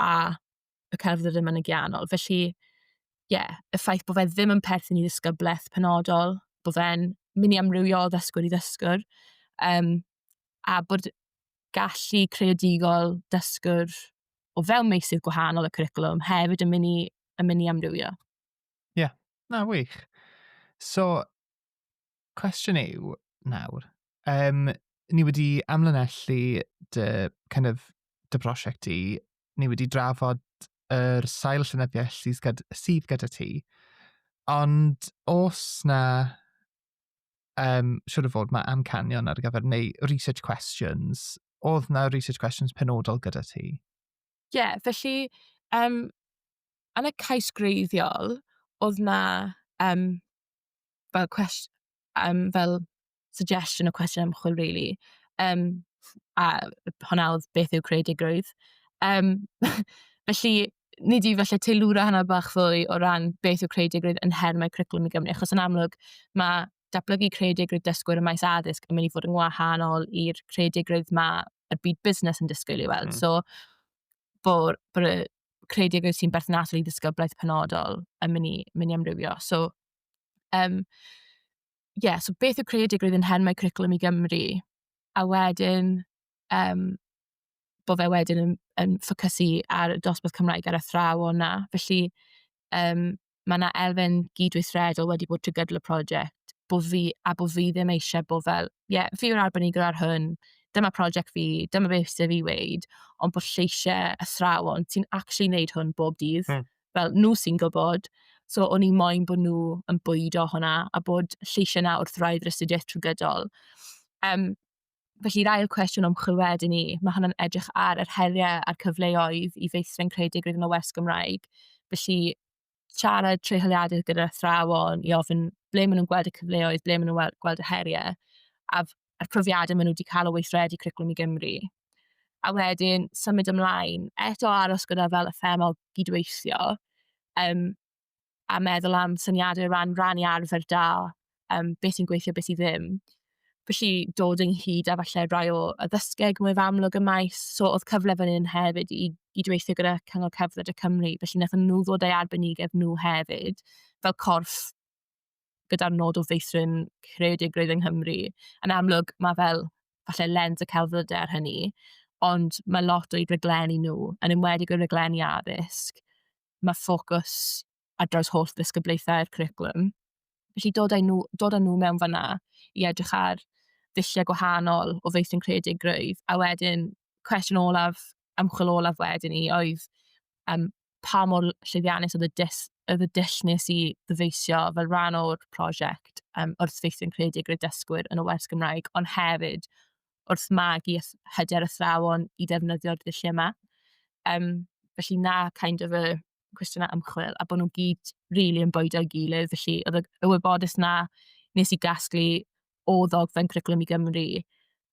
a y cerdd yr yma yn gianol. Felly, ie, yeah, y ffaith bod fe ddim yn perthyn i ddisgybleth penodol, bod fe'n mynd i amrywio o ddysgwr i ddysgwr, um, a bod gallu creadigol dysgwr o fewn meisydd gwahanol y cwricwlwm hefyd yn mynd i, yn mynd i amrywio. Ie, yeah. na wych. So, cwestiwn yw nawr, um, ni wedi amlinellu dy, kind of, dy prosiect i ni wedi drafod yr sail llenyddiaeth sydd gyda, sydd gyda ti. Ond os na, um, siwr o fod mae amcanion ar gyfer, neu research questions, oedd na research questions penodol gyda ti? Ie, yeah, felly, um, yn y cais greiddiol, oedd na um, fel cwestiwn, um, fel suggestion o cwestiwn ymchwil, really. Um, a hwnna oedd beth yw creadigrwydd. Um, felly, ni di falle teilwra hynna bach fwy o ran beth yw creadigrwydd yn her mae cwricwlwm i Gymru, achos yn amlwg mae datblygu creadigrwydd dysgwyr y maes addysg yn mynd i fod yn wahanol i'r creadigrwydd mae y byd busnes yn disgwyl i weld. Mm. So, bod, bod y creadigrwydd sy'n berthnasol i ddysgyblaeth penodol yn mynd i, mynd i amrywio. So, Um, yeah, so beth yw creadigrwydd yn hen mae Cwricwlwm i Gymru? A wedyn, um, bod fe wedyn yn, yn ffocysu ar y dosbarth Cymraeg ar y thraw o'na. Felly, um, mae yna elfen gydweithredol wedi bod trwy gydol y prosiect, bo fi, a bo fi ddim eisiau bod fel, ie, yeah, fi yw'r arbenigwr ar hwn, dyma prosiect fi, dyma beth sydd fi weid, ond bod lleisiau athrawon sy'n actually wneud hwn bob dydd. Mm. fel, nhw sy'n gwybod. So, o'n i moyn bod nhw yn bwydo hwnna, a bod lleisiau 'na wrth wraidd yr astudiaeth trwy gydol. Um, felly'r ail cwestiwn ymchwil wedyn i, mae hwnna'n edrych ar yr heriau a'r cyfleoedd i feithrin creadigrwydd yn y west Gymraeg. Felly, siarad treuholiadur gyda'r athrawon i ofyn ble maen nhw'n gweld y cyfleoedd, ble maen nhw'n gweld y heriau, a a'r profiadau maen nhw wedi cael o weithredu Cwricwlwm i Gymru. A wedyn, symud ymlaen, eto aros gyda fel y themol gydweithio, um, a meddwl am syniadau ran rannu arfer da, um, beth sy'n gweithio, beth sy'n ddim. Felly dod ynghyd a falle rai o addysgeg mwy amlwg y maes, so oedd cyfle fan hyn hefyd i i dweithio gyda Cyngor Cerdded y Cymru, felly wnaethon nhw ddod â'i arbenigedd nhw hefyd fel corff gyda'r nod o feithrin creadigrwydd yng Nghymru. Yn amlwg, mae fel, falle lens y celfyddydau ar hynny, ond mae lot o'u rhaglenni nhw, yn enwedig y rhaglenni addysg, mae ffocws ar draws holl ddisgyblaethau'r cwricwlwm. Felly dod â nhw, dod â nhw mewn fanna i edrych ar ddulliau gwahanol o feithrin creadigrwydd, a wedyn cwestiwn olaf, ymchwil olaf wedyn ni oedd um, pa mor llwyddiannus oedd y, dys, oedd y dull nes i ddyfeisio fel rhan o'r prosiect um, wrth feithrin creedig y dysgwyr yn y wers Gymraeg, ond hefyd wrth magu hyder athrawon i ddefnyddio'r ddulliau yma. Um, felly na kind of y cwestiynau ymchwil, a bod nhw'n gyd rili really yn bwydo i gilydd, felly oedd y wybodus na nes i gasglu o ddogfen Cwricwlwm i Gymru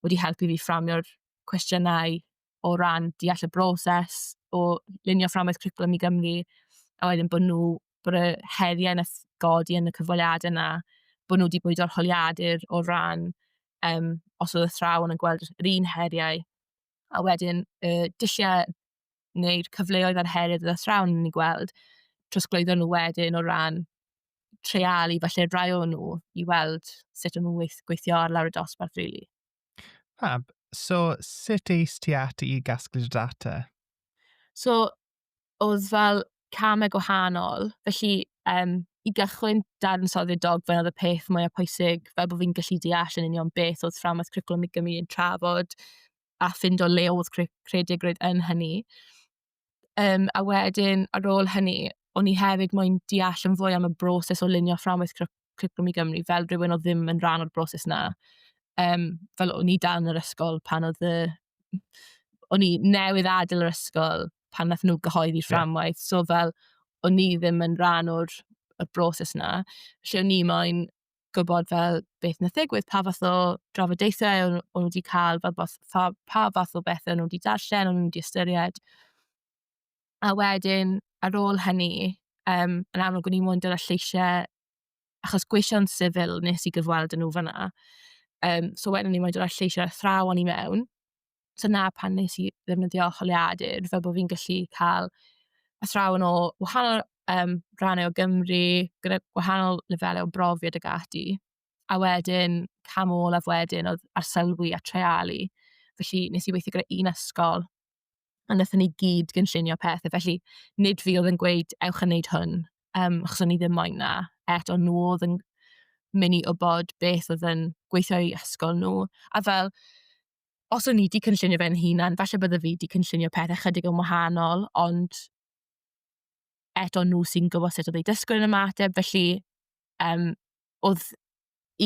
wedi helpu fi fframio'r cwestiynau o ran deall y broses o lunio fframwaith cwricwlwm i Gymru, a wedyn bod nhw, bod y heriau yn ysgodi yn y cyfweliadau yna, bod nhw wedi bod o'r holiadur o ran um, os oedd y thrawn yn gweld yr un heriau, a wedyn y dulliau neu'r cyfleoedd a'r heriau oedd y thrawn yn ei gweld, trosglwyddo nhw wedyn o ran treialu falle rai o nhw i weld sut o'n nhw'n gweithio ar lawr y dosbarth rili. Really. Fab. So, sut eis ti at i gasglu'r data? So, oedd fel camau gwahanol. Felly, um, i gychwyn dadansoddi'r dogfen oedd y peth mwyaf pwysig fel bod fi'n gallu deall yn union beth oedd fframwaith cwricwlwm i Gymru yn trafod a ffind o le oedd cre creadigrwydd yn hynny. Um, a wedyn, ar ôl hynny, o'n i hefyd moyn deall yn fwy am y broses o lunio fframwaith Cwricwlwm i Gymru fel rhywun o ddim yn rhan o'r broses na. Um, fel o'n i dan yr ysgol pan oedd y... O'n i newydd adael yr ysgol pan nath nhw gyhoeddi fframwaith. Yeah. So fel, o'n i ddim yn rhan o'r y broses na. Felly o'n i moyn gwybod fel beth wnaeth ddigwydd, pa fath o drafodaethau o'n nhw wedi cael, pa fath, pa, pa fath o bethau o'n nhw wedi darllen, o'n nhw wedi ystyried. A wedyn, ar ôl hynny, um, yn amlwg o'n i'n mwyn dyna lleisiau, achos gweision sifil nes i gyfweld yn nhw fyna. Um, so wedyn o'n i'n mwyn dyna lleisiau athrawon i mewn, dyna pan nes i ddefnyddio holiadur, fel bod fi'n gallu cael athrawon o wahanol um, rannau o Gymru, gyda gwahanol lefelau o brofiad ag ati. A wedyn, cam olaf wedyn oedd arselwi a treialu. Felly, nes i weithio gyda un ysgol, a wnaethon ni gyd gynllunio pethau. Felly, nid fi oedd yn gweud, ewch yn neud hwn, um, achos o'n i ddim moyn na. Eto, nhw oedd yn mynd i wybod beth oedd yn gweithio i ysgol nhw. A fel, os o'n i wedi cynllunio fe'n hunan, falle bydde fi wedi cynllunio pethau chydig yn wahanol, ond eto nhw sy'n gwybod sut oedd ei dysgwyr yn ymateb, felly um, oedd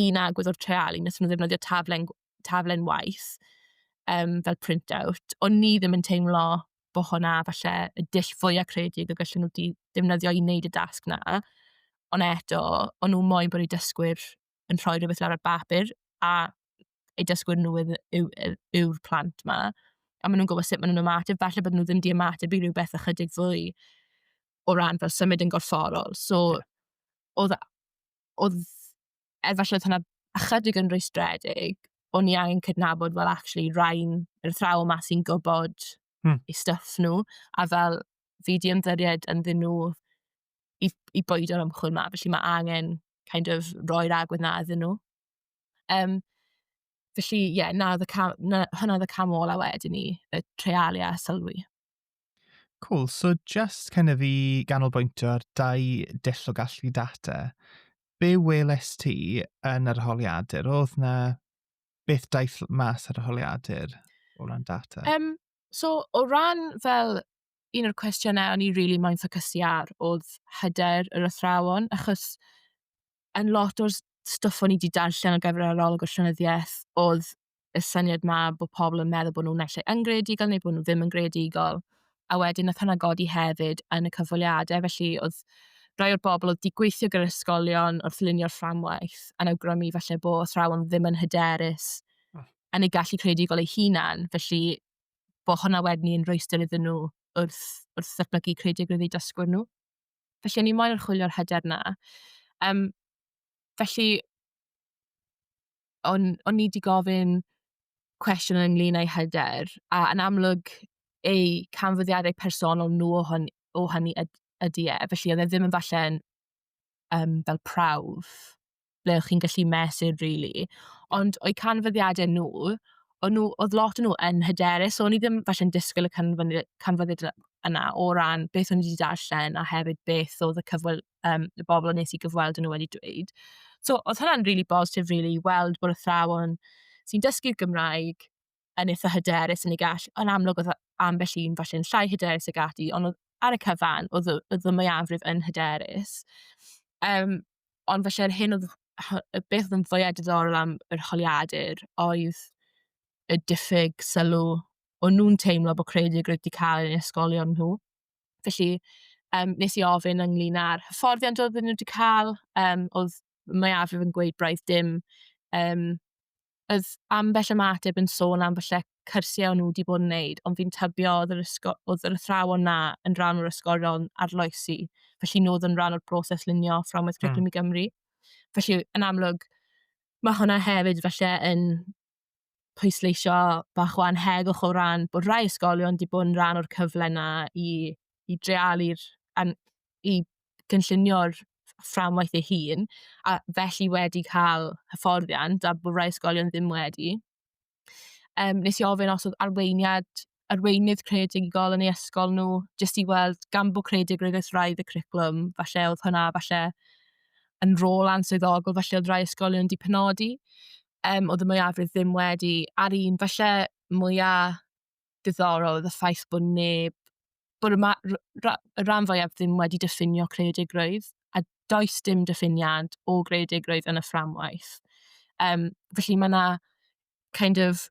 un agwedd o'r treialu, nes nhw ddefnyddio taflen, taflen waith um, fel print-out. O'n ni ddim yn teimlo bod hwnna falle y dull fwyaf creadig y gallwn nhw wedi defnyddio i wneud y dasg na. Ond eto, o'n nhw moyn bod eu dysgwyr yn rhoi rhywbeth lawr ar bapur a eu dysgwyr nhw yw, yw, yw, yw'r plant ma. A maen nhw'n gwybod sut maen nhw'n ymateb. Falle bod nhw ddim wedi ymateb i rhywbeth ychydig fwy o ran fel symud yn gorfforol. So, yeah. oedd, oedd, efallai oedd hwnna ychydig yn rwystredig, o'n i angen cydnabod, fel, actually, rhain, yr thraw yma sy'n gwybod hmm. i stuff nhw, a fel, fi di ymddiried yn ddyn nhw i, i boed o'r ymchwil yma, felly mae angen kind of roi'r agwedd na iddyn nhw. Um, felly, ie, yeah, na, cam, na, hwnna oedd y cam ola wedyn ni, y treialu a sylwi. Cool, so just kind of i ganolbwyntio ar dau dull o gallu data, be weles ti yn yr holiadur? Oedd na beth daeth mas ar y holiadur o ran data? Um, so, o ran fel un o'r cwestiynau o'n i rili really moyn ffocysu ar oedd hyder yr athrawon, achos yn lot o'r stwff o'n i wedi darllen ar gyfer arolwg y llenyddiaeth oedd y syniad ma bod pobl yn meddwl bod nhw'n naill ai yn greadigol neu bod nhw ddim yn greadigol. A wedyn nath hwnna godi hefyd yn y cyfweliadau, felly oedd rhai o'r bobl oedd wedi gweithio gyda'r ysgolion wrth lunio'r fframwaith yn awgrymu falle bo' athrawon ddim yn hyderus hmm. yn ei gallu creadigol ei hunan, felly bod hwnna wedyn yn rhwystyr iddyn nhw wrth wrth ddatblygu creadigrwydd eu dysgwyr nhw. Felly o'n i moyn archwilio'r hyder na. Um, felly, o'n, o'n i wedi gofyn cwestiwn ynglyn â'i hyder, a yn amlwg ei canfyddiadau personol nhw o, hon, o hynny ydy e. Felly, oedd e ddim yn falle'n um, fel prawf ble o'ch chi'n gallu mesur rili. Ond o'u canfyddiadau nhw, o'n nhw, oedd lot o'n nhw yn hyderus, so o'n i ddim falle'n disgwyl y canfyddi- canfyddiadau yna o ran beth o'n i wedi darllen a hefyd beth oedd y cyfwyl, um, y bobl o'n nes i gyfweld yn nhw wedi dweud. So, oedd hwnna'n rili really bositif, rili, really, weld bod athrawon sy'n dysgu'r Gymraeg yn eitha hyderus yn ei gall, yn amlwg oedd ambell un falle'n llai hyderus ag ati, ond oedd ar y cyfan, oedd y, oedd y mwyafrif yn hyderus. Um, ond falle'r hyn oedd, y beth oedd yn fwyaf diddorol am yr holiadur oedd y diffyg sylw o nhw'n teimlo bod credu y wedi cael ei ysgolion nhw. Felly, um, nes i ofyn ynglyn â'r hyfforddiant oedd nhw wedi cael, um, oedd mwyafrif yn gweud braidd dim um, oedd ambell ymateb yn sôn am falle cyrsiau o'n nhw wedi bod yn wneud, ond fi'n tybio oedd yr, ysgo, oedd yr athrawon na yn rhan o'r ysgolion arloesi, felly nhw oedd yn rhan o'r broses lunio fframwaith hmm. Cwricwlwm mm. i Gymru. Felly, yn amlwg, mae hwnna hefyd falle yn pwysleisio bach o anhegwch o ran bod rhai ysgolion wedi bod yn rhan o'r cyfle na i, i drealu'r i gynllunio'r fframwaith ei hun, a felly wedi cael hyfforddiant, a bod rai ysgolion ddim wedi. Um, nes i ofyn os oedd arweiniad, arweinydd creadigol yn ei ysgol nhw, jyst i weld gan bod creadigrwydd wrth raidd y cwricwlwm, falle oedd hwnna falle yn rôl answyddogol, falle oedd rai ysgolion wedi penodi, um, oedd y mwyafrif ddim wedi, a'r un falle mwyaf diddorol oedd y ffaith bod neb, bod y, ma, ra, y rhan fwyaf ddim wedi diffinio creadigrwydd, a does dim diffiniad o greadigrwydd yn y fframwaith. Um, felly mae yna kind of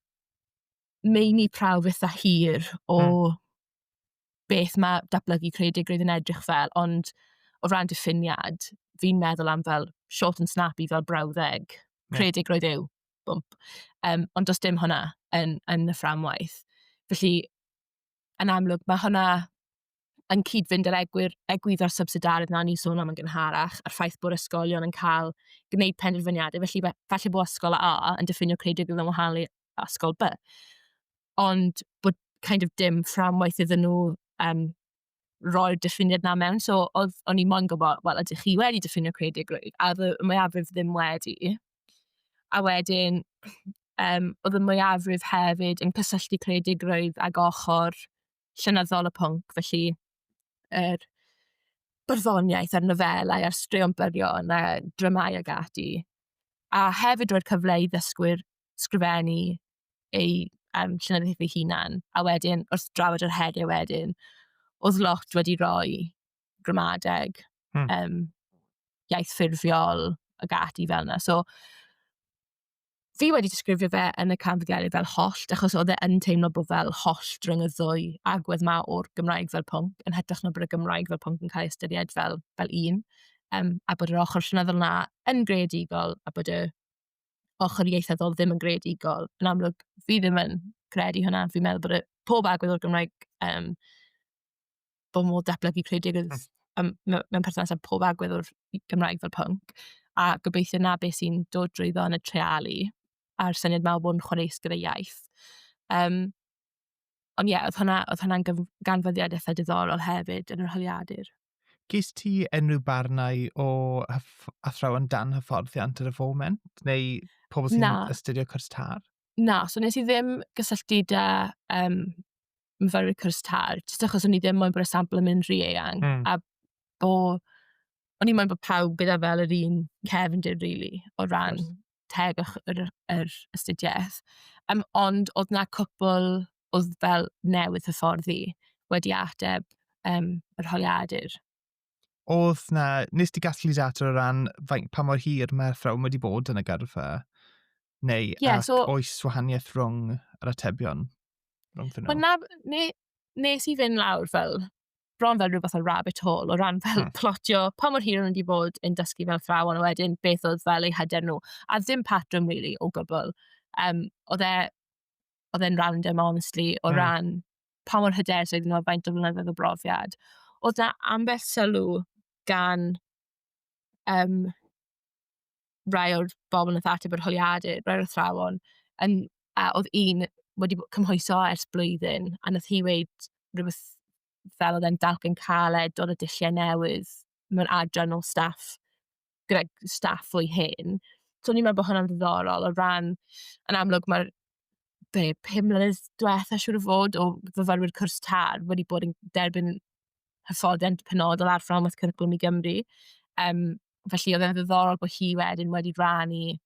meini prawf eitha hir o mm. beth mae datblygu creadigrwydd yn edrych fel, ond o ran diffiniad, fi'n meddwl am fel short and snappy fel brawddeg. Creadigrwydd yw bump. Um, ond does dim hwnna yn, yn y fframwaith. Felly, yn amlwg, mae hwnna yn cyd-fynd yr egwyr, egwydd o'r subsidaredd na ni'n sôn am yn gynharach, a'r ffaith bod ysgolion yn cael gwneud penderfyniadau. Felly, falle bod ysgol A yn diffinio creadigol yn wahanol i ysgol B. Ond bod kind of dim fframwaith iddyn nhw um, roi'r diffiniad na mewn. So, oedd, o'n i moyn gwybod, wel, ydych chi wedi diffinio creadigrwydd? A oedd y mwyafrif ddim wedi. A wedyn, um, oedd y mwyafrif hefyd yn cysylltu creadigrwydd ag ochr llynyddol y pwnc, felly yr byrddoniaeth a'r nofelau a'r straeon byrion a dramau ag ati. A hefyd roi'r cyfle i ddysgwyr sgrifennu ei um, llenyddiaeth ei hunan. A wedyn, wrth drafod yr heriau wedyn, oedd lot wedi rhoi gramadeg, hmm. um, iaith ffurfiol ac ati fel yna. So, fi wedi disgrifio fe yn y canfyddiadau fel hollt, achos oedd e yn teimlo bod fel hollt rhwng y ddwy agwedd ma o'r Gymraeg fel pwnc, yn hytrach na bod y Gymraeg fel pwnc yn cael ei ystyried fel, fel un, um, a bod yr ochr llynyddol yna yn greadigol, a bod y ochr ieithyddol ddim yn greadigol. Yn amlwg, fi ddim yn credu hwnna. Fi'n meddwl bod y... pob agwedd o'r Gymraeg, yym, bod modd datblygu creadigrwydd hmm. yym, mewn mewn perthynas â pob agwedd o'r Gymraeg fel pwnc, a gobeithio na beth sy'n dod drwyddo yn y trealu, a'r syniad mawr bod yn chwareus gyda iaith. Um, ond ie, yeah, oedd hwnna'n hwnna, oedd hwnna ganfyddiad eitha diddorol hefyd yn yr holiadur. Gest ti unrhyw barnau o athrawon dan hyfforddiant ar y foment? Neu pobl sy'n astudio cwrs tar? Na, so nes i ddim gysylltu da um, myfyrwyr cwrs tar, jyst achos o'n i ddim moyn bod y sampl yn mynd rhy eang. Mm. A bo, o'n i moyn bod pawb gyda fel yr un cefndir, really, o ran teg ych- yr yr astudiaeth, yym, ond oedd 'na cwpl oedd fel newydd hyfforddi wedi ateb, yym, yr holiadur. Oedd 'na... Wnest ti gasglu data o ran faint... pa mor hir mae'r athrawon wedi bod yn y gyrfa? Neu... Ie, so... Ac oes wahaniaeth rhwng yr atebion? Rhwngddyn nhw? Wel na, ni... nes i fynd lawr fel, bron fel rhywbeth o rabbit hole o ran fel hmm. plotio pa mor hir o'n wedi bod yn dysgu fel ffraw ond wedyn beth oedd fel eu hyder nhw a ddim patrwm really o gwbl. Um, oedd e, oedd e'n random honestly o hmm. ran pa mor hyder sydd nhw a faint o flynyddoedd o brofiad. Oedd na ambell sylw gan um, rai o'r bobl nath ateb yr holiadur, rai o'r athrawon, yn, a oedd un wedi bod cymhwyso ers blwyddyn, a nath hi weud rhywbeth fel oedd e'n dalcyn caled, oedd y dulliau newydd mewn adran o staff, gyda staff fwy hen. So o'n i'n meddwl bod hwnna'n ddiddorol o ran, yn amlwg mae'r be, pum mlynedd diwetha siŵr o fod o fyfyrwyr cwrs TARF wedi bod yn derbyn hyfforddiant penodol ar fframwaith cwricwlwm i Gymru. Yym, felly oedd e'n ddiddorol bod hi wedyn wedi rannu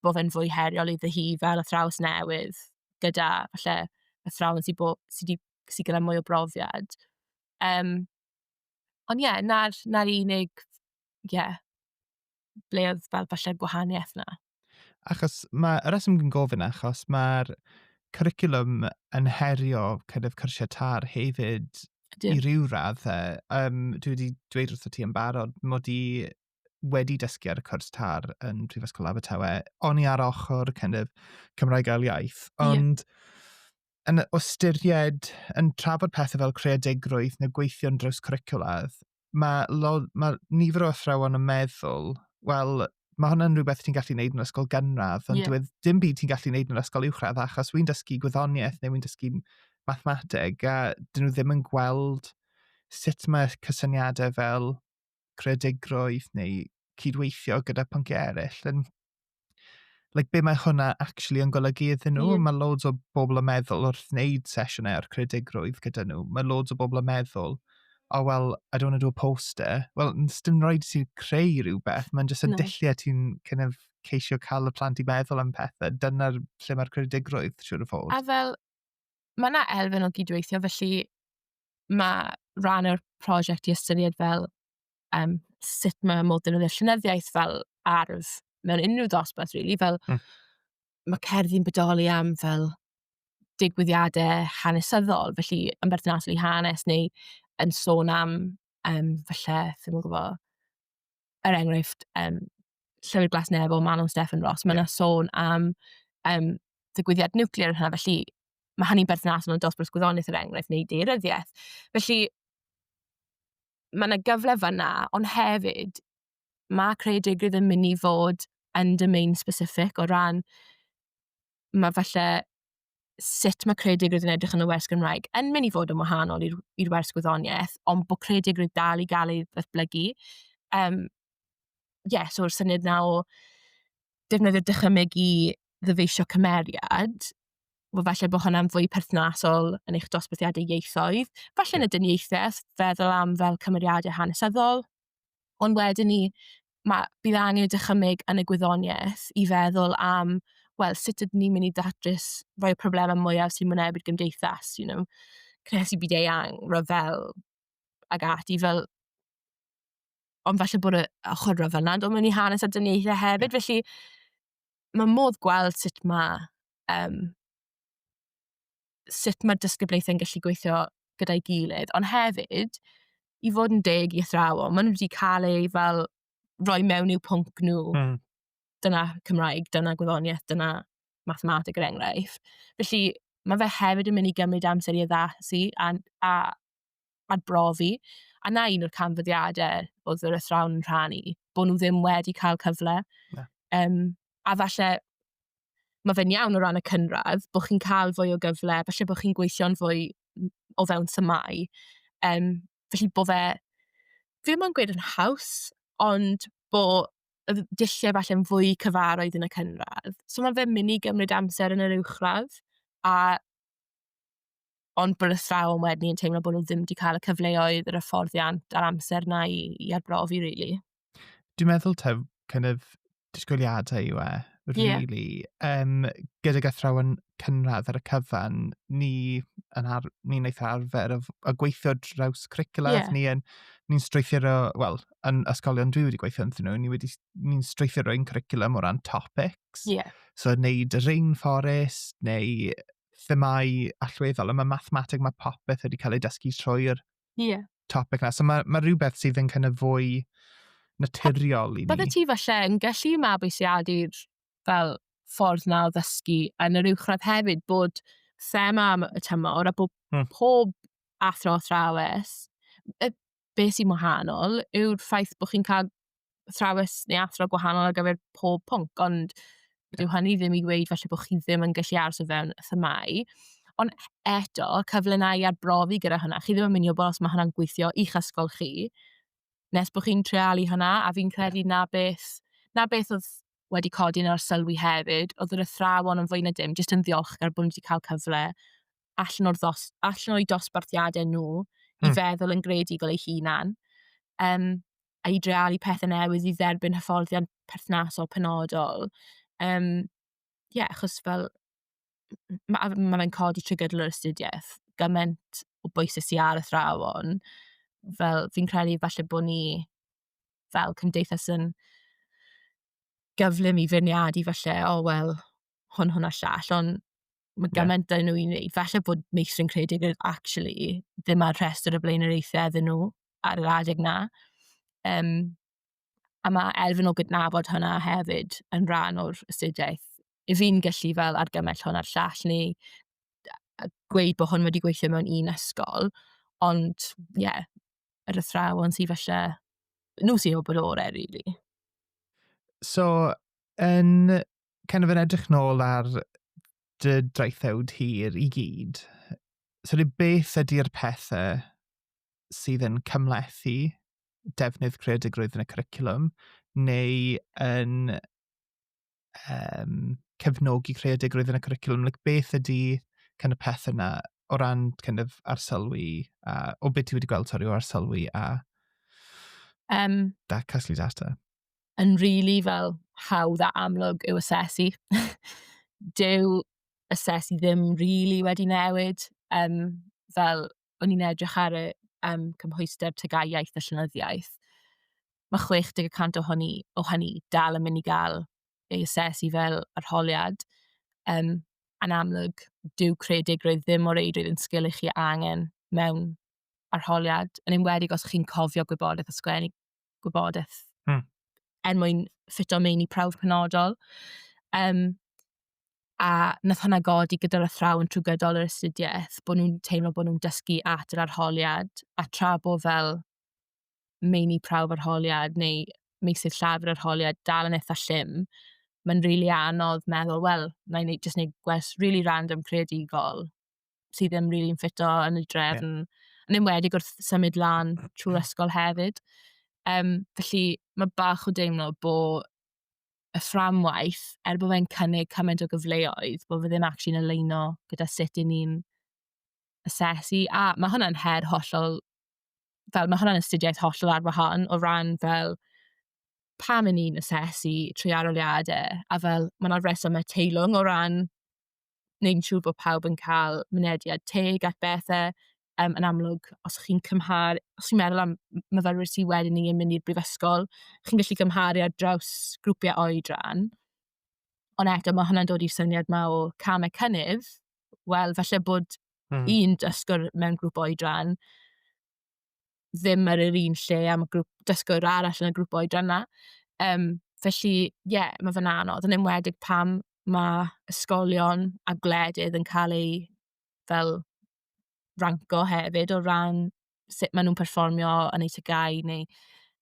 bod fe'n fwy heriol iddo hi fel athrawes newydd gyda falle athrawon sydd bo- sy 'di sy gyda mwy o brofiad. Um, ond ie, yeah, na'r, na unig, ie, yeah, ble oedd fel falle gwahaniaeth na. Achos mae, y reswm yn gofyn achos mae'r cwricwlwm yn herio kind of cyrsiau tar hefyd Ydy. i ryw radd. Fe. Um, dwi wedi dweud wrth y ti yn barod mod i wedi dysgu ar y cwrs tar yn Prifysgol Abertawe. O'n i ar ochr kind of Cymraeg ail iaith. Ond yeah. yn ystyried, yn trafod pethau fel creadigrwydd neu gweithio'n draws cwricwlaidd, mae, mae nifer o athrawon yn meddwl, wel, mae hwnna'n rhywbeth ti'n gallu gwneud yn ysgol gynradd, ond yeah. dweud dim byd ti'n gallu gwneud yn ysgol uwchradd, achos wy'n dysgu gwyddoniaeth neu wy'n dysgu mathemateg, a dyn nhw ddim yn gweld sut mae cysyniadau fel creadigrwydd neu cydweithio gyda pynciau eraill yn like, be mae hwnna actually yn golygu iddyn nhw. Mm. Mae loads o bobl yn meddwl wrth wneud sesiynau o'r creadigrwydd gyda nhw. Mae loads o bobl yn meddwl, oh well, I don't want to do a poster. Wel, dim rhaid ti creu rhywbeth, mae'n jyst y no. dulliau ti'n kind of ceisio cael y plant i meddwl am pethau. Dyna'r lle mae'r creadigrwydd, siwr o fod. A fel, mae yna elfen o gydweithio, felly mae rhan o'r prosiect i ystyried fel um, sut mae modd defnyddio llynyddiaeth fel arf mewn unrhyw dosbarth, really, fel mm. mae cerddi'n bodoli am fel digwyddiadau hanesyddol, felly yn berthnasol i hanes neu yn sôn am, um, falle, ddim yn gwybod, er enghraifft, um, Llywydd Glas Neb o Manon Stefan Ross, mae yna yeah. sôn am um, digwyddiad nuclear yn hynna, felly mae hynny'n berthnasol yn dosbarth gwyddoniaeth yr er enghraifft neu deiryddiaeth. Felly, mae yna gyfle fanna, ond hefyd, mae creu deugryd yn mynd i fod yn domain specific o ran, mae falle sut mae creu deugryd yn edrych yn y wers Gymraeg yn mynd i fod yn wahanol i'r i'r wers gwyddoniaeth, ond bod creu deugryd dal i gael ei ddatblygu. Um, yeah, so'r syniad na o defnyddio dychymyg i ddyfeisio cymeriad, wel falle bod hwnna'n fwy perthnasol yn eich dosbarthiadau ieithoedd, falle yn y dyniaethau, feddwl am fel cymeriadau hanesyddol, ond wedyn ni, mae, bydd angen y dychymyg yn y gwyddoniaeth i feddwl am, wel, sut ydyn ni'n mynd i datrys rhoi problemau mwyaf sy'n mynebu'r gymdeithas, you know, cynhesu byd eang, rhyfel, ag ati, fel ond falle bod y ochr rhyfel na'n dod mewn i hanes a dyniaethau hefyd, yeah. felly mae modd gweld sut mae um, sut mae'r disgyblaethau'n gallu gweithio gyda'i gilydd, ond hefyd, i fod yn deg i athrawon, maen nhw wedi cael ei fel roi mewn i'w pwnc nhw. Mm. Dyna Cymraeg, dyna gwyddoniaeth, dyna mathematig yr er enghraifft. Felly, mae fe hefyd yn mynd i gymryd amser i addasu a, a, a brofi. A na un o'r canfyddiadau oedd yr athrawn yn rhannu, bod nhw ddim wedi cael cyfle. Yeah. Um, a falle mae fe'n iawn o ran y cynradd, bod chi'n cael fwy o gyfle, felly bod chi'n gweithio'n fwy o fewn tymau. Um, felly bod fe, fi mae'n gweud yn haws, ond bod y dulliau falle'n fwy cyfarwydd yn y cynradd. So mae fe'n mynd i gymryd amser yn yr uwchradd, a ond bod athrawon wedyn yn teimlo bod nhw ddim wedi cael y cyfleoedd, yr hyfforddiant a'r amser na i, i arbrofi, really. Dwi'n meddwl taw kind of disgwyliadau yw e, really. Yeah. Um, gydag athrawon cynradd ar y cyfan, ni yn ar, ni'n eitha arfer o, o gweithio draws cwricula, yeah. ni yn, ni'n strwythuro, wel, yn ysgolion dwi wedi gweithio ynddyn nhw, ni wedi, ni'n strwythuro ein cwricula o ran topics. Yeah. So, neud y rainforest, neu themâu allweddol, ond mae mathemateg, mae popeth wedi cael ei dysgu trwy'r yeah. topic na. So mae, mae rhywbeth sydd yn kind of fwy naturiol i ni. Bydde ti falle yn gallu mabwysiadu'r fel ffordd na o ddysgu yn yr uwchradd hefyd bod thema am y tymor a bod hmm. pob athro athrawes be sy'n wahanol yw'r ffaith bod chi'n cael thrawes neu athro gwahanol ar gyfer pob pwnc, ond dyw hynny ddim i ddweud felly bod chi ddim yn gallu aros o fewn y themau. Ond eto, cyfle na i arbrofi gyda hynna. Chi ddim yn mynd i wybod os mae hynna'n gweithio i'ch ysgol chi, nes bod chi'n trealu hynna, a fi'n credu na beth, na beth oedd wedi codi yn arsylwi hefyd, oedd yr athrawon yn fwy na dim, jyst yn ddiolchgar bod nhw wedi cael cyfle allan, o'r ddos, allan o'i dosbarthiadau nhw i mm. feddwl yn greadigol ei hunan, um, a i drealu pethau newydd i dderbyn hyfforddiant perthnasol penodol. Um, ie, yeah, achos fel, mae ma fe'n codi trwy gydol yr astudiaeth, gymaint o bwysau sy'n ar y thrawon, fel fi'n credu falle bod ni fel cymdeithas yn gyflym i feirniadu falle, o oh, wel, hwn, hwn a llall, ond Mae gymaint yeah. nhw i wneud. Falle bod meithrin creadigol actually ddim ar rhestr y blaenoriaethau iddyn nhw ar yr adeg na. Um, a mae elfen o gydnabod hwnna hefyd yn rhan o'r astudiaeth. I fi'n gallu fel argymell hwn ar llall neu gweud bod hwn wedi gweithio mewn un ysgol, ond ie, yeah, yr athrawon sydd falle, nhw sy'n o bod orau, really. So, yn kind of yn edrych nôl ar dy draethawd hir i gyd, so ni beth ydy'r pethau sydd yn cymlethu defnydd creadigrwydd yn y cwricwlwm neu yn um, cefnogi creadigrwydd yn y cwricwlwm? Like, beth ydy kind of peth yna o ran kind of arsolwi a o beth ti wedi gweld sori o arsolwi a um, da casglu data? yn rili fel hawdd a amlwg yw asesu. Dyw asesu ddim rili wedi newid, yym, fel o'n i'n edrych ar y, yym, cymhwyster TGAU iaith a llenyddiaeth, ma' chwech deg y cant o hynny o hynny dal yn mynd i gael ei asesu fel arholiad, yym, yn amlwg dyw creadigrwydd ddim o reidrwydd yn sgil i chi angen mewn arholiad, yn enwedig os chi'n cofio gwybodaeth a sgwennu gwybodaeth hmm. er mwyn ffito mewn i prawf penodol. Um, a nath hwnna godi gyda'r athrawon trwy gydol yr astudiaeth, bod nhw'n teimlo bod nhw'n dysgu at yr arholiad, a tra bo fel meini prawf arholiad neu meisydd llafur arholiad dal yn eitha llym, mae'n rili really anodd meddwl, wel, na i just neud gwers rili really random creadigol, sydd ddim rili yn ffito yn y drefn. Yeah. Yn enwedig wrth symud lan trwy'r ysgol hefyd. Um, felly mae bach o deimlo bo y fframwaith, er bod fe'n cynnig cymaint o gyfleoedd, bod fe ddim actually'n aleino gyda sut i ni'n asesu. A mae hwnna'n her hollol, fel mae hwnna'n astudiaeth hollol ar wahan o ran fel pam wneud yn siŵr bod pawb yn cael mynediad teg at bethe. Yym, yn amlwg, os chi'n cymharu... os chi'n meddwl am m- myfyrwyr sy wedi 'ny yn mynd i'r brifysgol, chi'n gallu cymharu ar draws grwpiau oedran. Ond eto, mae hwnna'n dod i'r syniad 'ma o camau cynnydd. Wel, falle bod... mm. ...un dysgwr mewn grŵp oedran... ddim ar yr un lle a ma' grŵp dysgwyr arall yn y grŵp oedran 'na. Yym, felly, ie, yeah, mae fe'n anodd, yn enwedig pam mae ysgolion a gwledydd yn cael eu fel ranco hefyd o ran sut maen nhw'n perfformio yn eu TGAU neu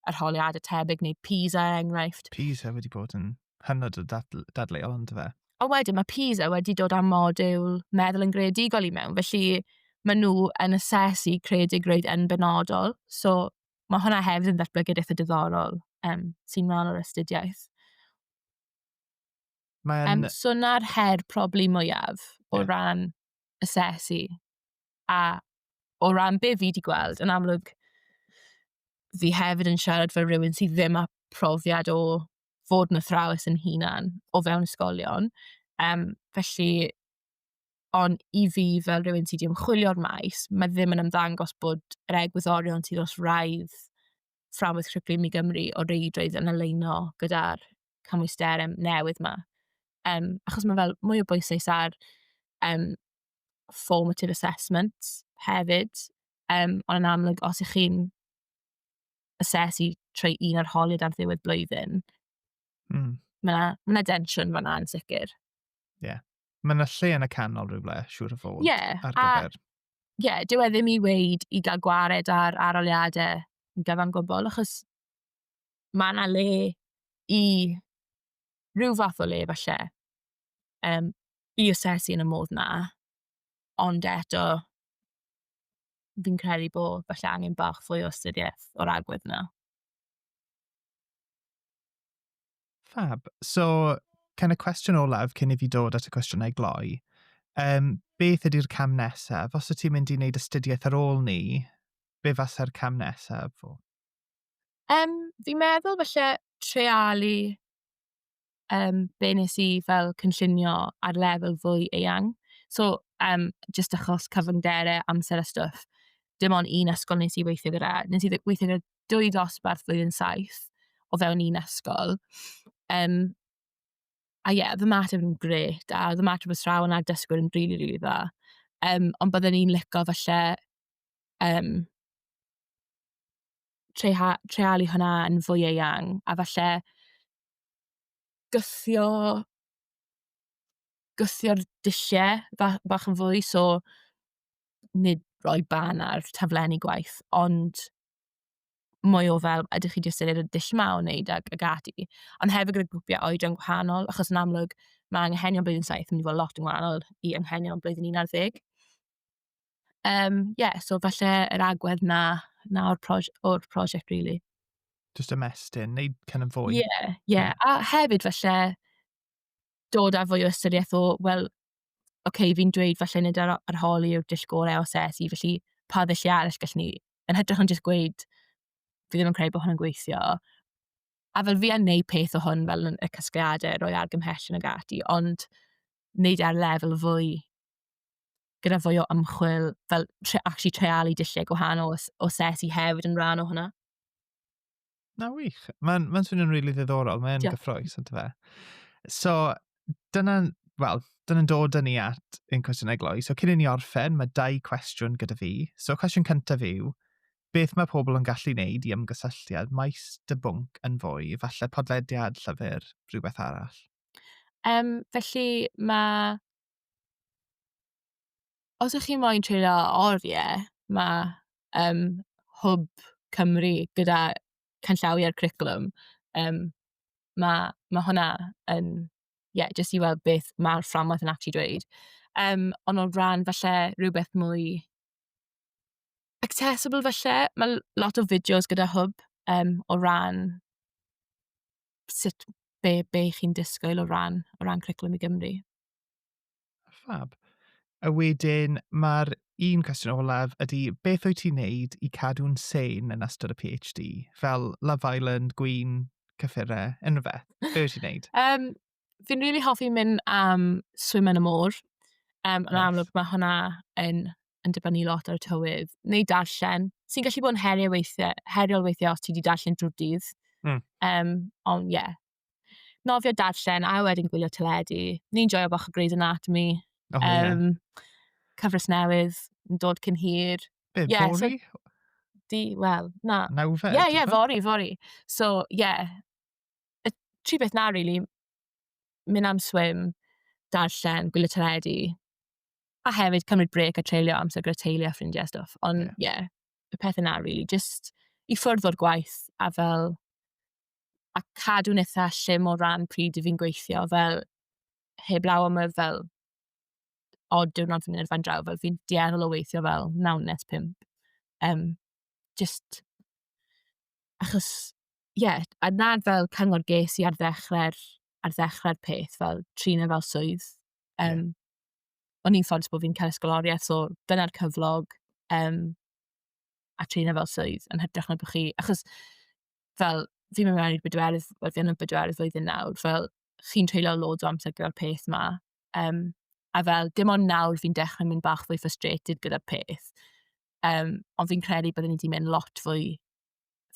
arholiadau tebyg neu PISA er enghraifft. PISA wedi bod yn hynod o dadl, dadleuol ynddo fe. A wedyn mae PISA wedi dod â modiwl meddwl yn greadigol i mewn, felly mae nhw yn asesu creadigrwydd yn benodol. So mae hwnna hefyd yn ddatblygiad eitha diddorol um, sy'n rhan o'r astudiaeth. Mae'n... Um, so na'r her probably mwyaf o yeah. ran asesu. A o ran be fi wedi gweld, yn amlwg, fi hefyd yn siarad fel rhywun sydd ddim â profiad o fod yn athrawes yn hunan o fewn ysgolion. Yym, felly, ond i fi fel rhywun sy 'di ymchwilio'r maes, mae ddim yn ymddangos bod yr egwyddorion sydd wrth wraidd fframwaith cwricwlwm i Gymru o reidrwydd yn aligno gyda'r cymwysterau newydd 'ma. Yym, achos mae fel mwy o bwyslais ar yym formative assessment hefyd. Yym, ond yn amlwg os 'y chi'n asesu trwy un o'r holiad ar ddiwedd blwyddyn. Mm. Mae yna ma densiwn fanna yn sicr. Ie. Yeah. Mae yna lle yn y canol rhywle, siŵr o fod, yeah, ar gyfer. Ie, yeah, dyw e ddim i weid i gael gwared ar aroliadau yn gyfan gwbl, achos mae yna le i rhyw fath o le falle um, i asesu yn y modd na. Ond eto, fi'n credu bod falle angen bach fwy o astudiaeth o'r agwedd 'na. Fab. So, kind of cwestiwn olaf cyn i fi dod at y cwestiynau gloi. Um, beth ydy'r cam nesaf? Os wyt ti'n mynd i wneud astudiaeth ar ôl ni, be fasa'r cam nesaf? Um, fi'n meddwl falle trealu um, be nes i fel cynllunio ar lefel fwy eang. So, um, just achos cyfyngderau, amser a stwff, dim ond un ysgol nes i weithio gyda. Nes i weithio gyda dwy dosbarth flwyddyn saith o fewn un ysgol. Um, a ie, yeah, fy mateb yn gret, a fy mateb yn srawn a'r dysgwyr yn rili, really, rili really dda. Um, ond byddwn i'n licio falle um, treialu hwnna yn fwy eang, a falle gythio gythio'r dulliau ba- bach yn fwy, so nid rhoi barn ar taflenni gwaith, ond mwy o fel, ydych chi 'di ystyried y dull 'ma o wneud ac ac ati? Ond hefyd gyda grwpiau oedran gwahanol, achos yn amlwg, mae anghenion blwyddyn saith yn mynd i fod lot yn wahanol i anghenion blwyddyn unarddeg. Yym, ie, so falle yr agwedd 'na, 'na o'r proj- o'r prosiect rili. Jyst ymestyn, neud kind of fwy. Ie, ie. A hefyd falle dod â fwy o ystyriaeth o, wel, oce, fi'n dweud falle nid ar ar hol yw'r dull gorau o asesu, felly pa ddulliau arall gallwn ni... yn hytrach na jyst gweud fi ddim yn credu bod hwn yn gweithio. A fel fi yn neud peth o hwn fel yn y casgliadau, rhoi argymhellion ac ati, ond neud e ar lefel fwy... gyda fwy o ymchwil, fel tre, actually treialu dulliau gwahanol o sesi hefyd yn rhan o hwnna. Na wych. Mae'n ma swnio'n rili really ddiddorol. Mae'n gyffroes, ydy fe. So, dyna'n, wel, dyna'n dod yn ni at yn cwestiynau gloi. So, cyn i ni orffen, mae dau cwestiwn gyda fi. So, cwestiwn cyntaf yw, beth mae pobl yn gallu wneud i ymgysylltiad maes dy bwnc yn fwy, falle podlediad, llyfr, rhywbeth arall? Um, felly, mae Os ych chi moyn treulio oriau, mae um, Hwb Cymru gyda canllawiau'r cwricwlwm. Um, mae, mae hwnna yn, ie, yeah, jyst i weld beth mae'r fframwaith yn actually dweud. Um, ond o ran falle rhywbeth mwy accessible falle, mae lot o fideos gyda Hwb um, o ran sut be be chi'n disgwyl o ran o ran Cwricwlwm i Gymru. Fab. A wedyn mae'r un cwestiwn olaf ydy beth wyt ti'n neud i cadw'n sane yn ystod y PhD? Fel Love Island, gwin, cyffurau, unrhyw beth? Be wyt ti'n neud? Um, fi'n rili really hoffi mynd am swim yn y môr. Um, yn nice. amlwg mae hwnna yn yn dibynnu lot ar y tywydd, neu darllen, sy'n gallu bod yn heriau weithiau, heriol weithiau os ti wedi darllen drwy'r dydd. Mm. Um, ond ie. Yeah. Nofio darllen, a wedyn gwylio teledu. Ni'n joio bach o Grey's Anatomy. Oh, um, yeah. Cyfres newydd yn dod cyn hir. Be, yeah, So, di, wel, na. Nawfed? Ie, yeah, ie, yeah, fori, fori. So, ie. Yeah. Y tri beth na, really. Mynd am swim, darllen, gwylio teledu, A hefyd cymryd brêc a treulio amser gyda teulu a ffrindiau a stwff. Ond ie, yeah. yeah, y pethau na rili, really, jyst i ffwrdd o'r gwaith a fel... A cadw'n eitha llym o ran pryd i fi'n gweithio, fel heb law am y fel odd diwrnod fi'n mynd fan draw, fel fi'n dueddol o weithio fel naw nes pump. Um, just... Achos, ie, yeah, a nad fel cyngor ges i ar ddechrau'r ar ddechrau'r peth, fel trin e fel swydd. Yym, o'n i'n ffodus bod fi'n cael ysgoloriaeth, so dyna'r cyflog, yym, a trin fel swydd yn hytrach na bod chi... Achos fel, fi'n mynd mewn i'r bedwerydd, wel fi yn y bedwerydd flwyddyn nawr, fel chi'n treulio loads o amser gyda'r peth 'ma. Yym, a fel dim ond nawr fi'n dechrau mynd bach fwy frustrated gyda'r peth. Yym, ond fi'n credu byddwn i 'di mynd lot fwy...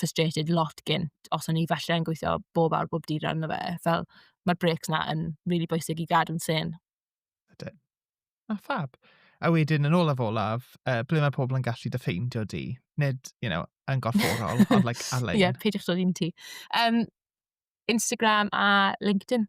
frustrated lot gynt os o'n i falle yn gweithio bob awr bob dydd arno fe, fel mae'r breaks 'na yn rili bwysig i gadw'n sane. Ydyn. A ffab. A wedyn yn olaf olaf, uh, ble mae pobl yn gallu dy ffeindio di? Nid, you know, yn gorfforol, ond like ar-lein. Ie, yeah, peidiwch dod i'n ti. Um, Instagram a LinkedIn.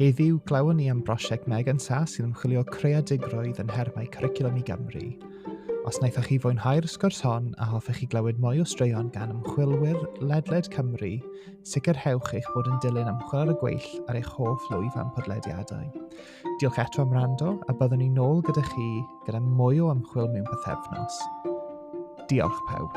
Heddiw, glywon ni am brosiect Megan Sa sy'n ymchwilio creadigrwydd yn nhermau cwricwlwm i Gymru. Os wnaethoch chi fwynhau'r sgwrs hon a hoffech chi glywed mwy o straeon gan ymchwilwyr ledled Cymru, sicrhewch eich bod yn dilyn ymchwil ar y gweill ar eich hoff lwyf am podlediadau. Diolch eto am rando a byddwn ni'n ôl gyda chi gyda mwy o ymchwil mewn pethefnos. Diolch pawb.